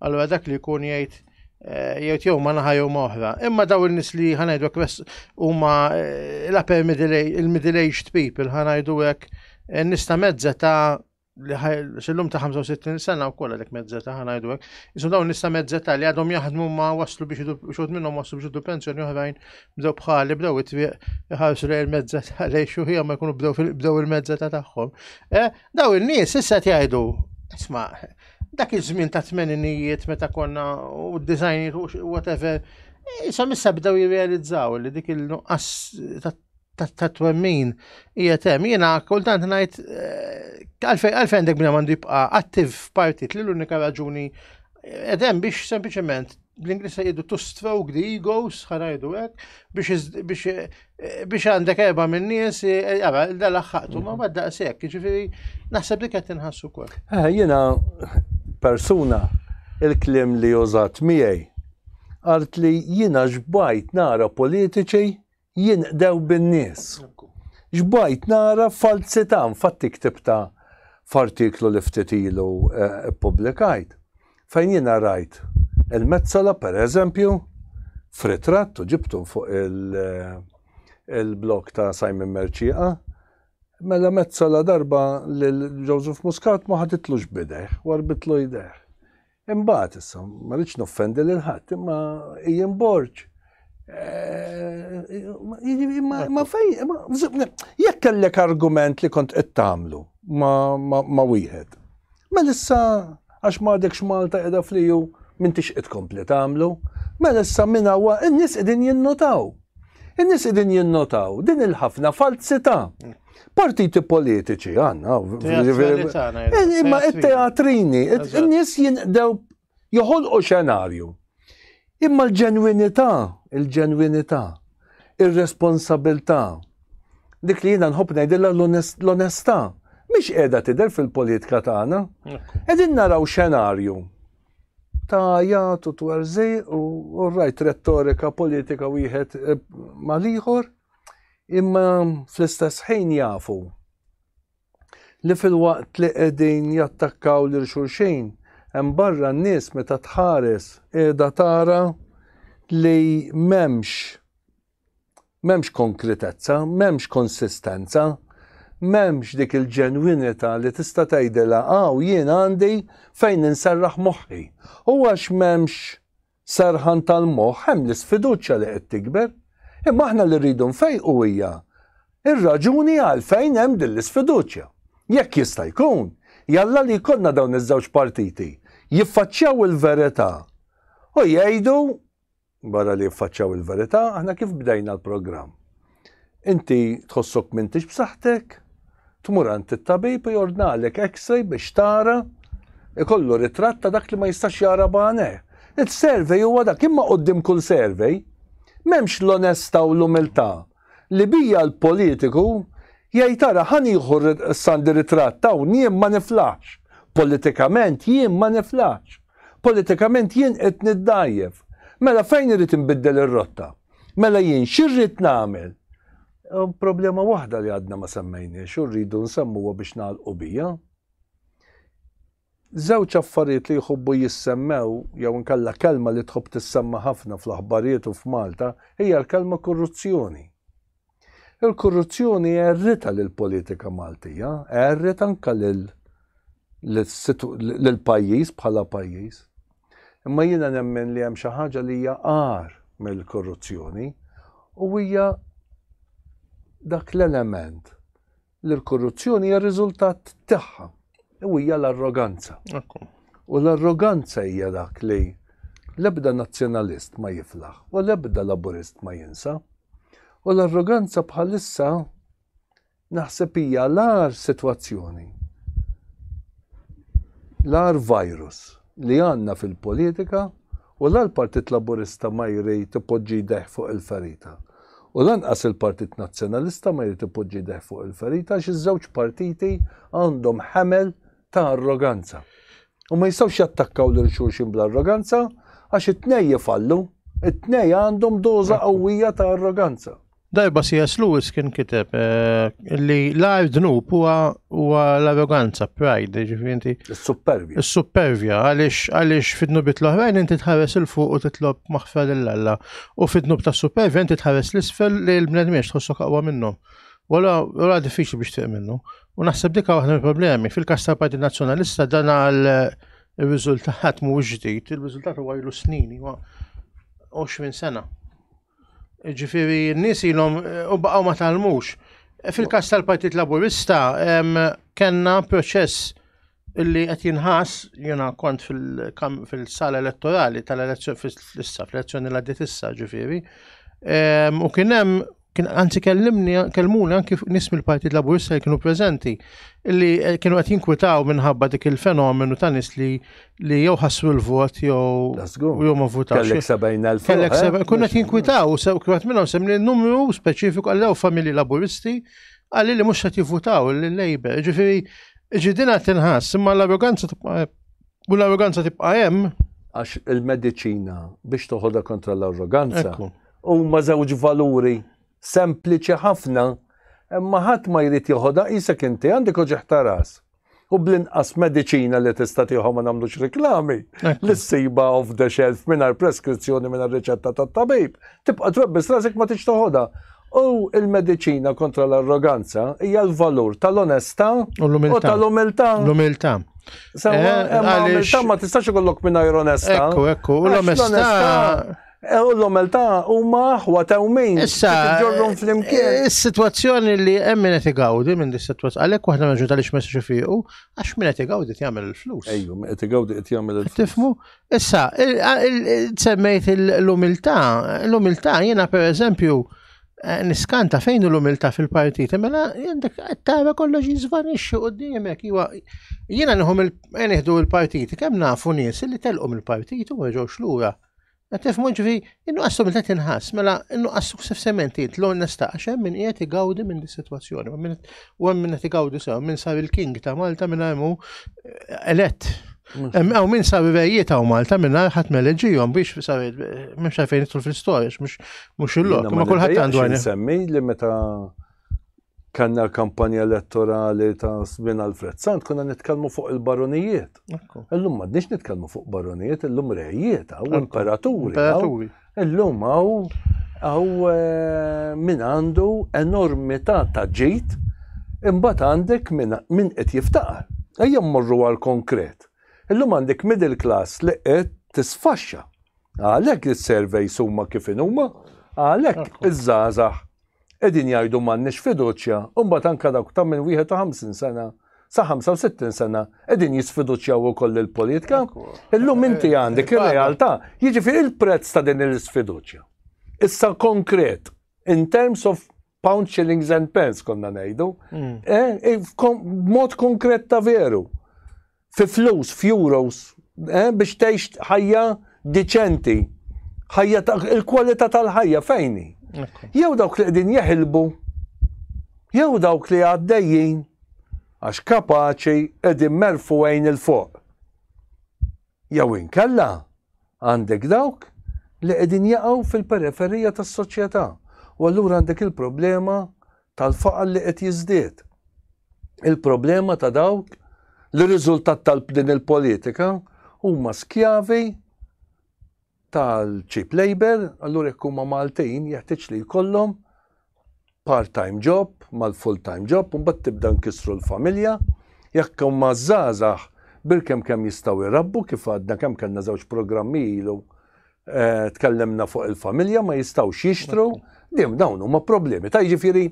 Allura dak li jkun jgħid eh, jgħid jew ma naħa jew ma oħra. Imma daw in-nies li ħanajdu kwest huma eh, l-upper middle aged people ħanajdu hekk eh, nista' mezza ta' xillum ta' 65 sena u kolla dik mezzeta ħana jdu għek. Isu dawn nista mezzeta li għadhom jaħdmu ma waslu biex xod minnom waslu biex id pensjoni uħrajn bdew bħali bdew it-twieq iħarsu lejn il-mezza lejn xuħija ma jkunu bdew bdew il-mezza ta' tagħhom. Eh, daw in-nies issa jgħidu, isma' dak iż-żmien ta' tmeninijiet meta konna u d-dizajnijiet u whatever, issa missa bdew jirrealizzaw li dik il-nuqqas ta' twemmin hija tem. Jiena kultant ngħid eh, għalfejn għalfejn dak bnejn għandu jibqa' attiv f'partit li l-unika raġuni Edem biex sempliciment bl-Inglis jgħidu to stroke the egos, ħarajdu hekk, biex għandek erba minn nies, jara, eh, dal ħaqtu ma bad daqshekk, ġifieri naħseb li qed inħassu wkoll. Eh, jiena persuna il-klim li użat miegħi għalt li jiena ġbajt nara politiċi jinqdew bin-nies. Xbajt nara falzità, infatti ktibtha f'artiklu li ftit ilu ppubblikajt, fejn jiena rajt il-Metsola pereżempju f'ritratt u ġibtu fuq il-blog ta' Simon Mercieqa, mela Metsola darba lil Joseph Muscat ma ħaditlux b'idejh, warrbitlu jdejh. Imbagħad issa, ma rridx noffendi lil ħadd, imma Ian Borg ma fej, jekk kellek argument li kont qed tagħmlu ma wieħed. Mela issa għax m'għadekx Malta qiegħda fliju m'intix qed kompli tagħmlu. Mela issa minn hawn in-nies qegħdin jinnutaw. In-nies qegħdin jinnotaw din il-ħafna falzità. Partiti politiċi għandna. Eh, imma it-teatrini, in-nies jinqdew joħolqu xenarju. Imma l-ġenwinità, il-ġenwinità, ir-responsabilità, dik li jiena nħobb ngħidilha l-onestà, mhix qiegħda tidher fil-politika tagħna. Qegħdin naraw xenarju ta' għajat u twerżej u rajt retorika politika wieħed eh, mal-ieħor imma fl-istess ħin jafu li fil-waqt li qegħdin jattakkaw lil xulxin hemm barra n-nies meta tħares qiegħda tara li m'hemmx M'hemmx konkretezza, m'hemmx konsistenza, m'hemmx dik il-ġenwinità li tista' tgħidilha hawn jien għandi fejn inserraħ moħħi. U għax m'hemmx serħan tal-moħħ hemm l-isfiduċja li qed tikber. Imma aħna li rridu nfejqu hija ir-raġuni għalfejn hemm din l-isfiduċja. Jekk jista' jkun, jalla li jkollna dawn iż-żewġ partiti jiffaċċjaw il-verità u jgħidu Barra li jiffaċċaw il-verità, aħna kif bdejna l-programm? Inti tħossok m'intix b'saħħtek, tmur għand it-tabib u jordnalek x-ray biex tara ikollu ritratt ta' dak li ma jistax jara bane. Il-survey huwa dak imma qoddim kull survey m'hemmx l-onesta u l-umiltà li bija l-politiku jgħid ara ħa nieħu Sandy ritratt hawn jien ma niflaħx, politikament jien ma niflaħx, politikament jien qed niddgħajjef. Mela fejn irrid inbiddel ir-rotta? Mela jien x'irrid nagħmel? Problema waħda li għadna ma semmejniex u rridu nsemmuha biex nagħlqu bija. Żewġ affarijiet li jħobbu jissemmew, jew inkella kelma li tħobb tissemma ħafna fl-aħbarijiet u f'Malta, hija l-kelma kurruzzjoni. Il-kurruzzjoni għerritha lill-politika Maltija, għerriet anke lil lill-pajjiż bħala pajjiż. Imma jiena nemmen li hemm xi ħaġa li hija agħar mill-kurruzzjoni u hija dak l-element li l-korruzzjoni hija riżultat tagħha u hija l-arroganza. U l-arroganza hija dak li l-ebda nazzjonalist ma jiflaħ u l-ebda laburist ma jinsa. U l-arroganza bħalissa naħseb hija l-ar sitwazzjoni. L-ar virus li għandna fil-politika U la l-Partit Laburista ma jrid ipoġġi jdejh fuq il-ferita. U lanqas il-Partit Nazzjonalista ma jrid ipoġġi jdejh fuq il-ferita għax iż-żewġ partiti għandhom ħemel ta' arroganza. U ma jistgħux jattakkaw lil xulxin bl-arroganza għax it-tnejn jifallu. It-tnejn għandhom doża qawwija ta' arroganza. Darba C.S. Lewis kien kiteb eh, li l-għar dnub huwa l-arroganza, pride, ġifinti. Is-supervja. Is-supervja, għalix għalix fid-dnubit l-oħrajn inti tħares il-fuq u titlob maħfer l-alla. U fid-dnub ta' supervja inti tħares l-isfel li l-bnedmiex tħossu kaqwa minnu. Wala, wala diffiċli biex tiq minnu. U naħseb dika waħda mill-problemi. Fil-kas tal Partit Nazzjonalista dan għal il-riżultat mhuwiex ġdid, il-riżultat huwa ilu snin, huwa 20 sena. Ġifiri, n-nies ilhom u baqgħu ma talmux. Fil-każ tal-Partit Laburista kellna proċess illi qed jinħass jiena kont fil-sala elettorali tal-elezzjoni fl-issa fl-elezzjoni l għaddiet issa ġifiri. U kien hemm kien anzi kellimni kelmuni anki nies mill-Partit Laburista li kienu preżenti illi eh, kienu qed jinkwitaw minħabba dik il-fenomenu ta' nies li li jew ħassu l-vot jew jew ma votax. Kellek 70,000. Kellek 70,000. Eh? Kunna tinkwitaw, sew kif minnhom semmi numru speċifiku għallew familji laburisti għalli li mhux qed jivvutaw l-Labor. Ġifieri ġidina tinħass, imma l-arroganza tibqa' u l-arroganza tibqa' hemm. Għax il-mediċina biex toħodha kontra l-arroganza huma żewġ valuri sempliċi ħafna imma ħadd ma jrid joħodha isek inti għandek oġeħ taras. U bl-inqas mediċina li tista' tieħu ma nagħmlux reklami, li ssiba off the shelf mingħajr preskrizzjoni mingħajr riċetta tat-tabib, tibqa' trobbi strasek ma tix toħodha. U il-mediċina kontra l-arroganza hija l-valur tal-onestà u tal-umiltà. L-umiltà. Sewa, eh, l-umiltà ma tistax ikollok mingħajr onestà. Ekku, ekku, l-onestà Eh, u l-omelta huma aħwa ta' umejn. Issa. Ġorrum fl-imkien. Eh, is-sitwazzjoni li hemm min qed igawdi minn dis-sitwazzjoni. Għalhekk waħda minn ġuta li xmessu xifiqu, għax min qed igawdi jagħmel il-flus. Ejju, min qed igawdi qed jagħmel il-flus. Tifmu? Issa, semmejt l-umiltà, l-umiltà jiena pereżempju eh, niskanta fejn l-umiltà fil-partit, mela jendek tara kollox jiżvanixxi qudiemek. Jiena nħum il-partit, kemm nafu nies li telqhom il-partit u ma ġewx lura. Qed nifhmu ġifi, in-nuqqas sobilità tinħass, mela in-nuqqas suksessivament id l-onesta għax hemm min qiegħed igawdi minn dis-sitwazzjoni, u hemm min qed igawdi sew, minn sar il-king ta' Malta minn hemm eh, elett. Għaw minn sa' vivejjiet għaw Malta minn ħat meleġijom biex sa' minn xafejn fil-storiex, mux il-lok, ma kullħat għandu għajn. Semmi li meta kellna l-kampanja elettorali ta' żmien Alfred Sant, konna nitkellmu fuq il-baronijiet. Illum m'għadniex nitkellmu fuq baronijiet, illum rejiet, għaw imperaturi. Illum għaw għaw eh, min għandu enormità ta' ġit, imbagħad għandek min qed jiftaqar. Ejja mmorru għal konkret. Illum għandek middle class li qed tisfaxxa. Għalhekk is-surveys huma kif huma, għalhekk iż-żgħażagħ qegħdin jgħidu m'għandniex fiduċja u mbagħad anke dawk ta' minn 51 sena sa 65 sena qegħdin jisfiduċjaw ukoll il-politika. Illum inti għandek ir-realtà, jiġifieri il-prezz ta' din l-isfiduċja. Issa konkret, in terms of pound shillings and pence konna ngħidu, mm. eh, eh, mod konkret ta' veru. fi flus, f'euros, eh, biex tgħix ħajja diċenti, ħajja il-kwalità tal-ħajja fejni. Jew dawk li qegħdin jeħilbu, jew dawk li għaddejjin għax kapaċi qegħdin merfu għajn il-fuq. Jew inkella għandek dawk li qegħdin jaqgħu fil-periferija tas-soċjetà. U allura għandek il-problema tal-faqar li qed jiżdied. Il-problema ta' dawk li riżultat tal-din il-politika huma skjavi tal-cheap labor, allura jekk huma Maltin jeħtieġ li jkollhom part-time job mal-full-time job u mbagħad tibda nkissru l-familja. Jekk huma żgħażagħ bil-kemm kemm jistgħu jrabbu kif għadna kemm kellna żewġ programmi ilu Eh, tkellemna fuq il-familja ma jistawx jixtru, dim dawn huma problemi. Ta' jiġifieri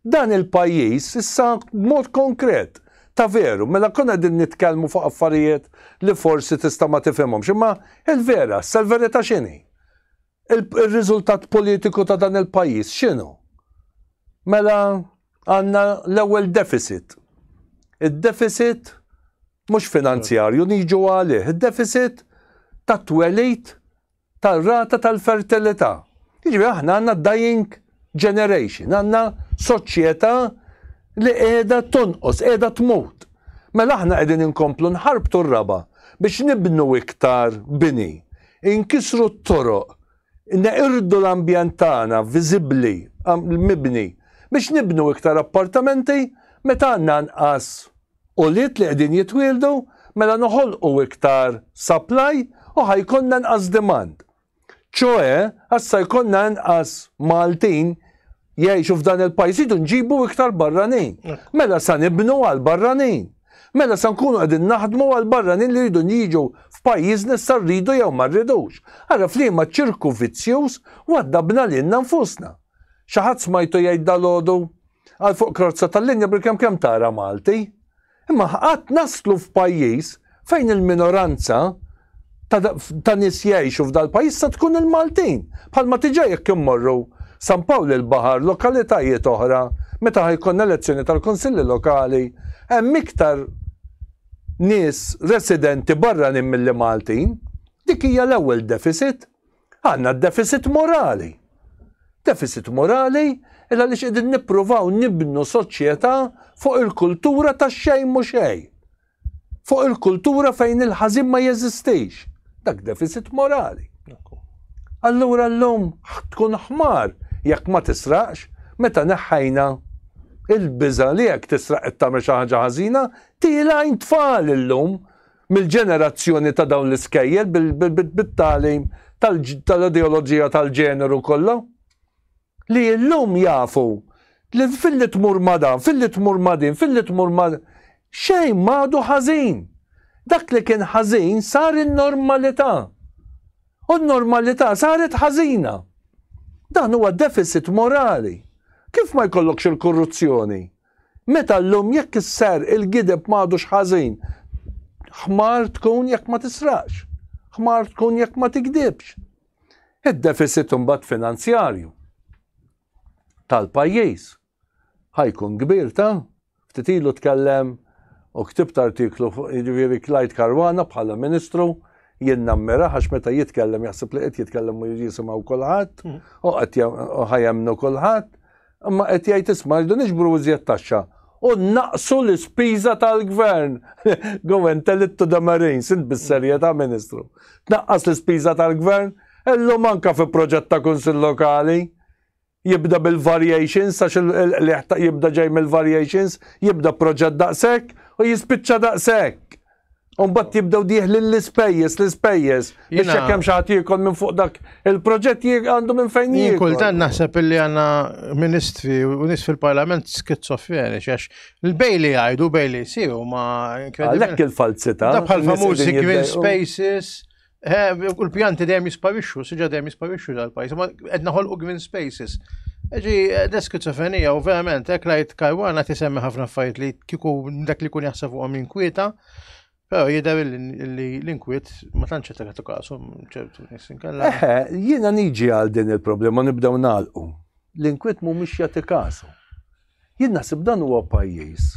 dan il-pajjiż issa mod konkret ta' veru, mela konna din nitkellmu fuq affarijiet li forsi tista' ma tifhimhom. Imma il-vera, sal-verità x'inhi? Il-riżultat politiku ta' dan il-pajjiż x'inhu? Mela għandna l-ewwel deficit. Id-deficit mhux finanzjarju niġu għalih, id-deficit tat-twelid tar-rata tal-fertilità. Jiġifieri aħna għandna dying generation, għandna soċjetà li qiegħda tonqos, qiegħda tmut. Mela aħna qegħdin inkomplu nħarbtu r-raba biex nibnu iktar bini, inkisru t-toroq Inneqirdu l-ambjent tagħna viżibbli, mibni, biex nibnu iktar appartamenti meta għandna anqas ulied li qegħdin jitwieldu, mela noħolqu iktar supply u ħa jkollna anqas demand. Ċoe, assa jkollna anqas Maltin jgħixu f'dan il-pajjiż idu nġibu iktar barranin. Mela sa nibnu għal barranin. Mela sa nkunu qegħdin naħdmu għal barranin li jridu jiġu f'pajjiżna sa rridu jew ma rridux. Ara f'liema ċirku vizzjuż waddabna lilna nfusna. Xi ħadd smajtu jgħid dalodu għal fuq krozza tal-linja bil-kemm kemm tara Malti. Imma qatt naslu f'pajjiż fejn il-minoranza ta' nies jgħixu f'dal-pajjiż se tkun il-Maltin, bħalma tiġa jekk immorru San Pawl il-Baħar, lokalitajiet oħra, meta ħa jkollna elezzjoni tal-Kunsilli Lokali, hemm iktar nies residenti barranin milli Maltin. Dik hija l-ewwel deficit. Għandna deficit morali. Deficit morali il għaliex qegħdin nippruvaw nibnu soċjetà fuq il-kultura ta' xejn mhu xejn. Fuq il-kultura fejn il-ħażin ma jeżistix. Dak deficit morali. Allura llum tkun ħmar jekk ma tisraqx meta neħħajna il-biża li jekk tisraq qed tagħmel xi ħaġa ħażina, tielgħin tfal illum mill-ġenerazzjoni ta' dawn l-iskejjel bit-tagħlim tal-ideoloġija tal-ġeneru kollha, li illum jafu li filli tmur ma' dan, filli tmur ma' din, filli tmur ma' xejn m'għadu ħażin. Dak li kien ħażin sar in-normalità. U n-normalità saret ħażina. Dan huwa deficit morali. Kif ma jkollokx il-korruzzjoni? Meta llum jekk isserq il-gideb m'għadux ħażin. Ħmar tkun jekk ma tisraqx. Ħmar tkun jekk ma tigdibx. Id-defisit imbagħad finanzjarju tal-pajjiż ħajkun kbir ta' ftit ilu tkellem u ktibt artiklu fuq jiġifieri Clyde Karwana bħala Ministru jien nammira għax meta jitkellem jaħseb li qed jitkellem u jisimgħu kulħadd u qed ħajemnu kulħadd Imma qed jgħid isma' rridu niġbru iżjed taxxa u naqsu l-ispiża tal-gvern. Go and tell it to the Marines, int bis-serjetà Ministru. Tnaqqas l-ispiża tal-gvern, illum anka fi proġett ta' Kunsill Lokali jibda bil-variations għax il-qliħ jibda ġej mill-variations, jibda proġett daqshekk u jispiċċa daqshekk. Umbat jibdew diħlin l-ispejjes, l-ispejjes. Biex jekk hemm xi ħadd minn fuq dak il-proġett għandu minn fejn jiekol. Kultant naħseb illi għandna ministri u nies fil-Parlament skizofreni, għax il-bejli jgħidu bejli jsir ma Għalhekk il-falzità. Bħal famużi green spaces, Eh, u l-pjanti dejjem jisparixxu, siġa dejjem jisparixxu dal-pajis, ma qed naħolqu green spaces. Ġi, eh, l-eskizofrenija u verament, hekk lajt karwana tisemmi ħafna affarijiet li kiku dak li kun jaħseb fuqhom inkwieta, però jidher li l-inkwiet ma tantx qed tagħtu kasu ċertu nies inkella. Eħe, jiena niġi għal din il-problema nibdew nagħlqu. L-inkwiet mhumiex jagħti kasu. Jien naħseb dan huwa pajjiż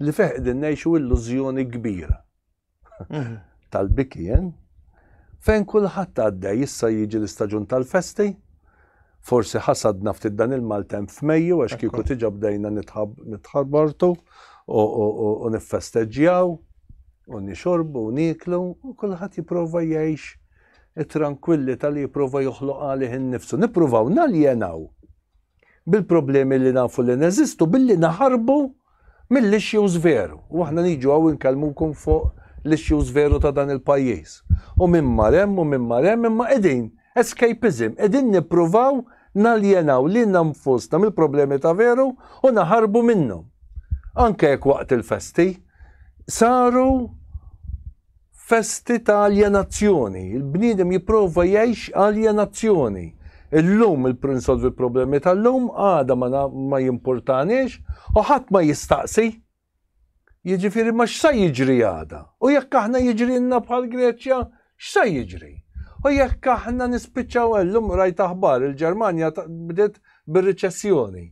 li fih qegħdin ngħixu illużjoni kbira tal-biki, eh? fejn kulħadd għaddej issa jiġi l-istaġun tal-festi. Forsi ħasadna ftit dan il-maltemp f'Mejju għax kieku tiġa bdejna nitħarbortu u niffesteġġjaw u nixorbu u niklu u kulħadd jipprova jgħix it-trankwilli tal-li jipprova joħloq għalih innifsu. Nippruvaw naljenaw bil-problemi li nafu li neżistu billi naħarbu mill-issues veru. U aħna niġu għaw inkellmukom fuq l-issues veru ta' dan il-pajjiż. U minn marem u minn marem imma qegħdin escapism, qegħdin nippruvaw naljenaw li nfusna mill-problemi ta' veru u naħarbu minnhom. Anke jekk waqt il-festi saru festi ta' aljenazzjoni. Il-bniedem jipprova jgħix aljenazzjoni. Illum il-prinsolvi l-problemi tal-lum, għada ma, ma jimpurtaniex, u ħadd ma jistaqsi. Jiġifieri ma x'sa jiġri għada? U jekk aħna jiġrilna bħal Greċja, x'sa jiġri? U jekk aħna nispiċċaw illum rajt aħbar il-Ġermanja bdiet bir-riċessjoni.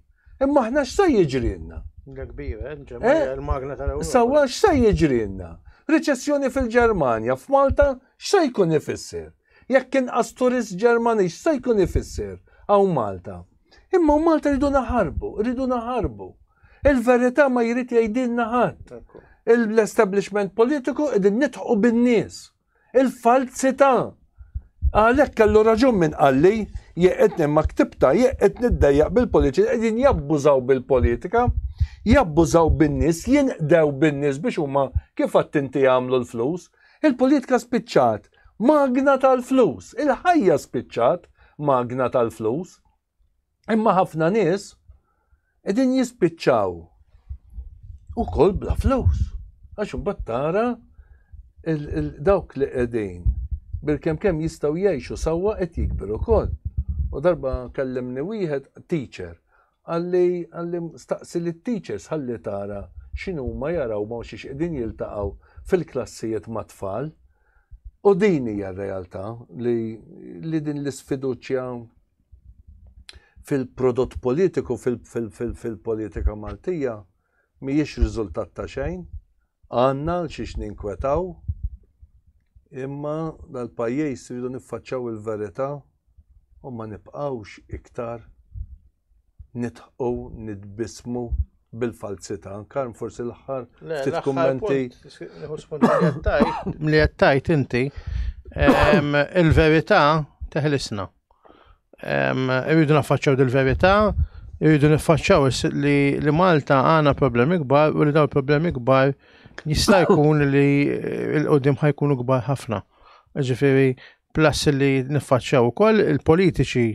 Imma aħna x'se jiġrilna? Da kbir, eh? Ġermanja eh? il-magna tal-Ewropa. Sawa x'se jiġrilna? Riċessjoni fil-Ġermanja, f'Malta x'se jkun ifisser? Jekk inqas turist Ġermani x'se jkun ifisser hawn Malta? Imma Malta rridu naħarbu, rridu naħarbu. Il-verità ma jrid jgħidilna ħadd. L-establishment politiku qegħdin nitħu bin-nies. Il-falzità! Għalhekk kellu raġun minn qalli, jeqitni ma ktibta, jeqitni ddejjaq bil-politiċi qegħdin jabbużaw bil-politika, jabbużaw bin-nies, jinqdew bin-nies biex huma kif attinti jagħmlu l-flus. Il-politika spiċċat magna tal-flus, il-ħajja spiċċat magna tal-flus. Imma ħafna nies qegħdin jispiċċaw ukoll bla flus. Għax imbagħad tara dawk li qegħdin bil-kem kem jistaw jgħixu sawwa qed jikbiru kol. U darba kellimni wieħed teacher għalli għalli staqsi li teachers għalli tara xinu ma jaraw ma xiex qegħdin jiltaqgħu fil-klassijiet ma' tfal. U din hija r-realtà li, li din l-isfiduċja fil-prodott politiku fil-politika Maltija mhijiex riżultat ta' xejn. Għandna għal xiex ninkwetaw imma dal-pajjiż rridu niffaċċaw il-verità u ma nibqgħux iktar nidħqu nitbismu bil-falzità. Karm forsi l-aħħar ftit kummenti. Li qed tajt inti il-verità teħlisna. Irridu naffaċċaw dil-verità, irridu niffaċċaw li, li Malta għana problemi kbar u li daw problemi kbar jista' jkun li l-qoddim ħajkunu kbar ħafna. Ġifiri, plus li niffaċċaw ukoll il-politiċi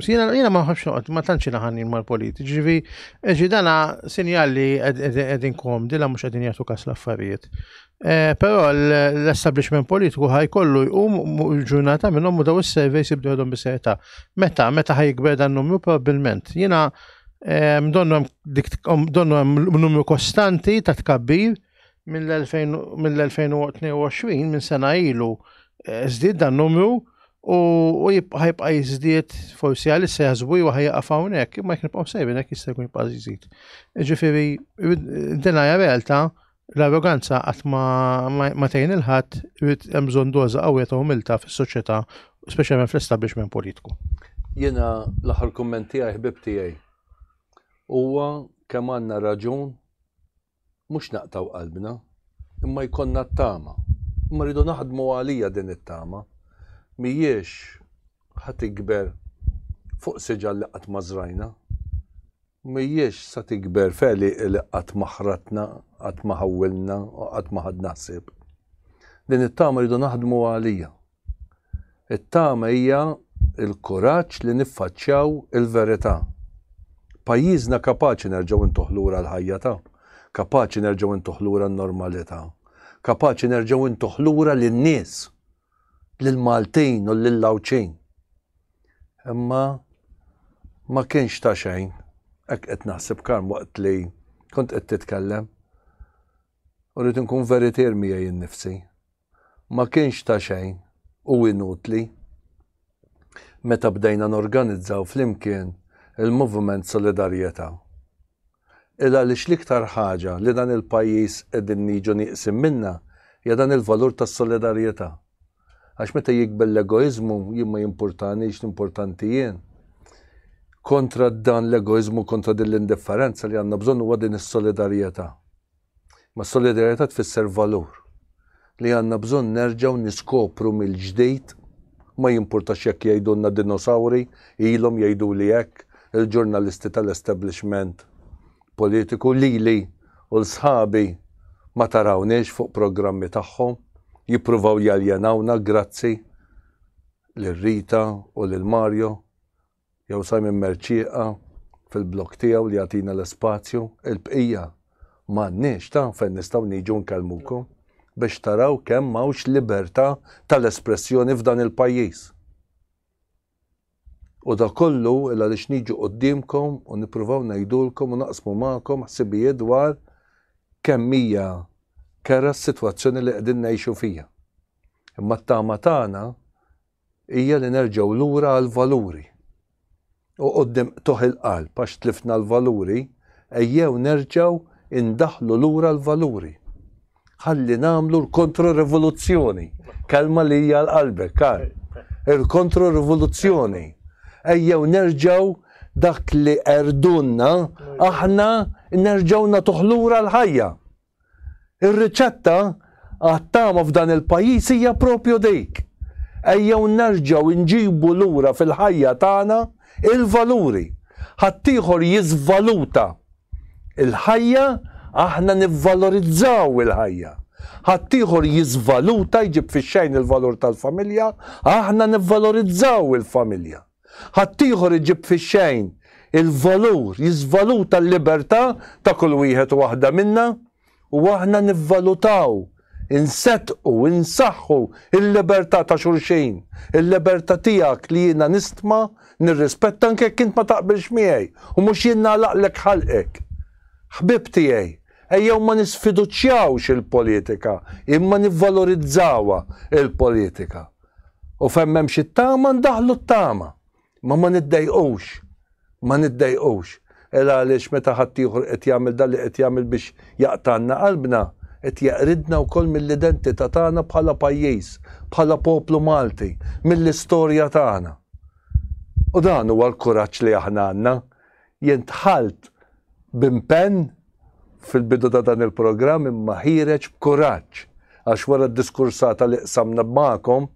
Sina jina ma ħafx noqgħod ma tantx naħanin mal-politi. Ġivi, eġi dana sinjal li qegħdin kom, dila mhux qegħdin jagħtu kas l-affarijiet. Eh, però l-establishment politiku ħajkollu jqum il-ġurnata minnhom u daw is-surveys jibdu għadhom biseta. Meta, meta ħajkber dan numru probabbilment. Jiena eh, donnu hemm numru kostanti ta' tkabbir mill-2022 minn sena ilu eh, żdied dan numru u ħajbqa' jiżdied forsi għal issa jaħsbu jew ħajqa' hawnhekk, imma jekk nibqgħu sejbin hekk jista' jkun jibqa' jiżid. Ġifieri, din hija realtà L-arroganza qatt ma, ma, ma tgħin il-ħadd, irid hemm bżonn doża qawwija ta' umiltà fis-soċjetà, speċjalment fl-establishment politiku. Jiena l-aħħar kumment tiegħi ħbib tiegħi. Huwa kemm għandna raġun mhux naqtgħu qalbna, imma jkollna t-tama. Imma rridu naħdmu għalija din it-tama. Mhijiex ħa tikber fuq siġar li qatt ma żrajna. M'hijiex sa tikber f'għeliq li qatt ma ħratna, qatt ma ħawwilna u qatt ma ħadna ħsieb. Din it-tama rridu naħdmu għaliha. It-tama hija l-kuraġġ li niffaċċjaw il-verità. Pajjiżna kapaċi nerġgħu ntuh lura l-ħajja ta', kapaċi nerġgħu ntuh lura n-normalità, kapaċi nerġgħu ntuh lura lin-nies. lill-Maltin u lill-Għawdxin. Imma ma kienx ta' xejn, hekk qed naħseb Karm waqt li kont qed titkellem. U rrid inkun veritier miegħi nnifsi. Ma kienx ta' xejn u inutli meta bdejna norganizzaw flimkien il-Moviment Solidarjetà. il għaliex l-iktar ħaġa li dan il-pajjiż qegħdin niġu nieqsin minnha hija dan il-valur tas-solidarjetà. Għax meta jikber l-egoiżmu jien ma jimpurtanix l-importanti jien. Kontra dan l-egoiżmu kontra din l-indifferenza li għandna bżonn huwa din is-solidarjetà. Ma s-solidarjetà tfisser valur li għandna bżonn nerġgħu niskopru mill-ġdid, ma jimpurtax jekk jgħidulna dinosawri, ilhom jgħiduli hekk il-ġurnalisti tal-establishment politiku, lili u 'l sħabi ma tarawniex fuq programmi tagħhom, jippruvaw jaljenawna, grazzi lil Rita u lil Mario. Jew Simon Mercieqa fil-blog tiegħu li jagħtina l-ispazju, il-bqija m'għandniex, ta' fejn nistgħu niġu nkellmukom biex taraw kemm m'hawnx libertà tal-espressjoni f'dan il-pajjiż. U da kollu il għaliex niġu quddiemkom u nippruvaw ngħidulkom u naqsmu magħkom ħsibijiet dwar kemm hija kera s-sitwazzjoni li qegħdin ngħixu fija. Imma t-tama tagħna hija li nerġgħu lura għall-valuri. U quddiem qtugħ il-qalb għax tlifna l-valuri, ejjew nerġgħu indaħħlu lura l-valuri. Ħalli nagħmlu l-kontro-rivoluzzjoni, kelma li hija għal qalbek, Karl. Il-kontro-rivoluzzjoni. Ejjew nerġgħu dak li qerdunna aħna nerġgħu nagħtuh lura l-ħajja. Ir-riċetta għat-tama f'dan il-pajjiż hija propju dik. Ejjew nerġgħu nġibu lura fil-ħajja tagħna il-valuri. Ħaddieħor jiżvaluta l-ħajja, aħna nivvalorizzaw il-ħajja. Ħaddieħor jiżvaluta, jġib fix-xejn il-valur tal-familja, aħna nivvalorizzaw il-familja. Ħaddieħor iġib fix-xejn il-valur, jiżvaluta l-libertà ta' kull wieħed u waħda minna, u aħna nivvalutaw, inseddqu, insaħħu l-libertà ta' xulxin, il-libertà tiegħek li jiena nistma, nirrispetta anke jekk int ma taqbilx miegħi u mhux jien nagħlaqlek ħalqek. Ħbieb tiegħi, ejjew ma nisfiduċjawx il-politika, imma nivvalorizzawha l-politika. U fejn m'hemmx it-tama ndaħlu t-tama. Ma ma niddejqux. Ma niddejqux. Era għaliex meta ħaddieħor qed jagħmel dan li qed jagħmel biex jaqtgħalna qalbna, qed jeqridna wkoll mill-identità tagħna bħala pajjiż, bħala poplu Malti, mill-istorja tagħna. U dan huwa l-kuraġġ li aħna għandna. Jien dħalt b'impenn fil-bidu ta' dan il-programm imma ħiereġ b'kuraġġ għax wara d-diskursata li qsamna magħkom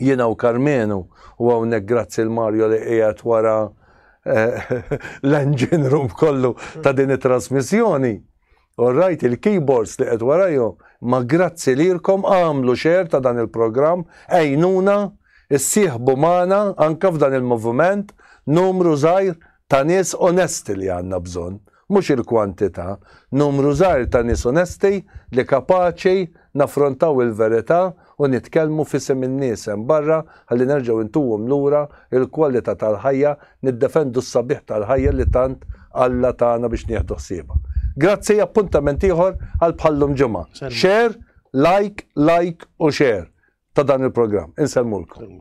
jiena u Karmenu u hawnhekk grazzi 'l Mario li qiegħed wara l-engine room kollu ta' din it-trasmissjoni. U rajt il-keyboards li qed warajhom, ma grazzi lilkom għamlu xer ta' dan il-programm, għejnuna, issieħbu magħna anke f'dan il-moviment, numru żgħir ta' nies onesti li għandna bżonn, mhux il-kwantità, numru żgħir ta' nies onesti li kapaċi naffrontaw il-verità u nitkellmu f'isem in-nies hemm barra ħalli nerġgħu ntuhom lura l-kwalità tal-ħajja, niddefendu s-sabiħ tal-ħajja li tant Alla tana biex nieħdu ħsiebha. Grazzi, appuntament ieħor għal bħal-lum ġimgħa. Share, like, like u share ta' dan il-programm. Insellmulkom.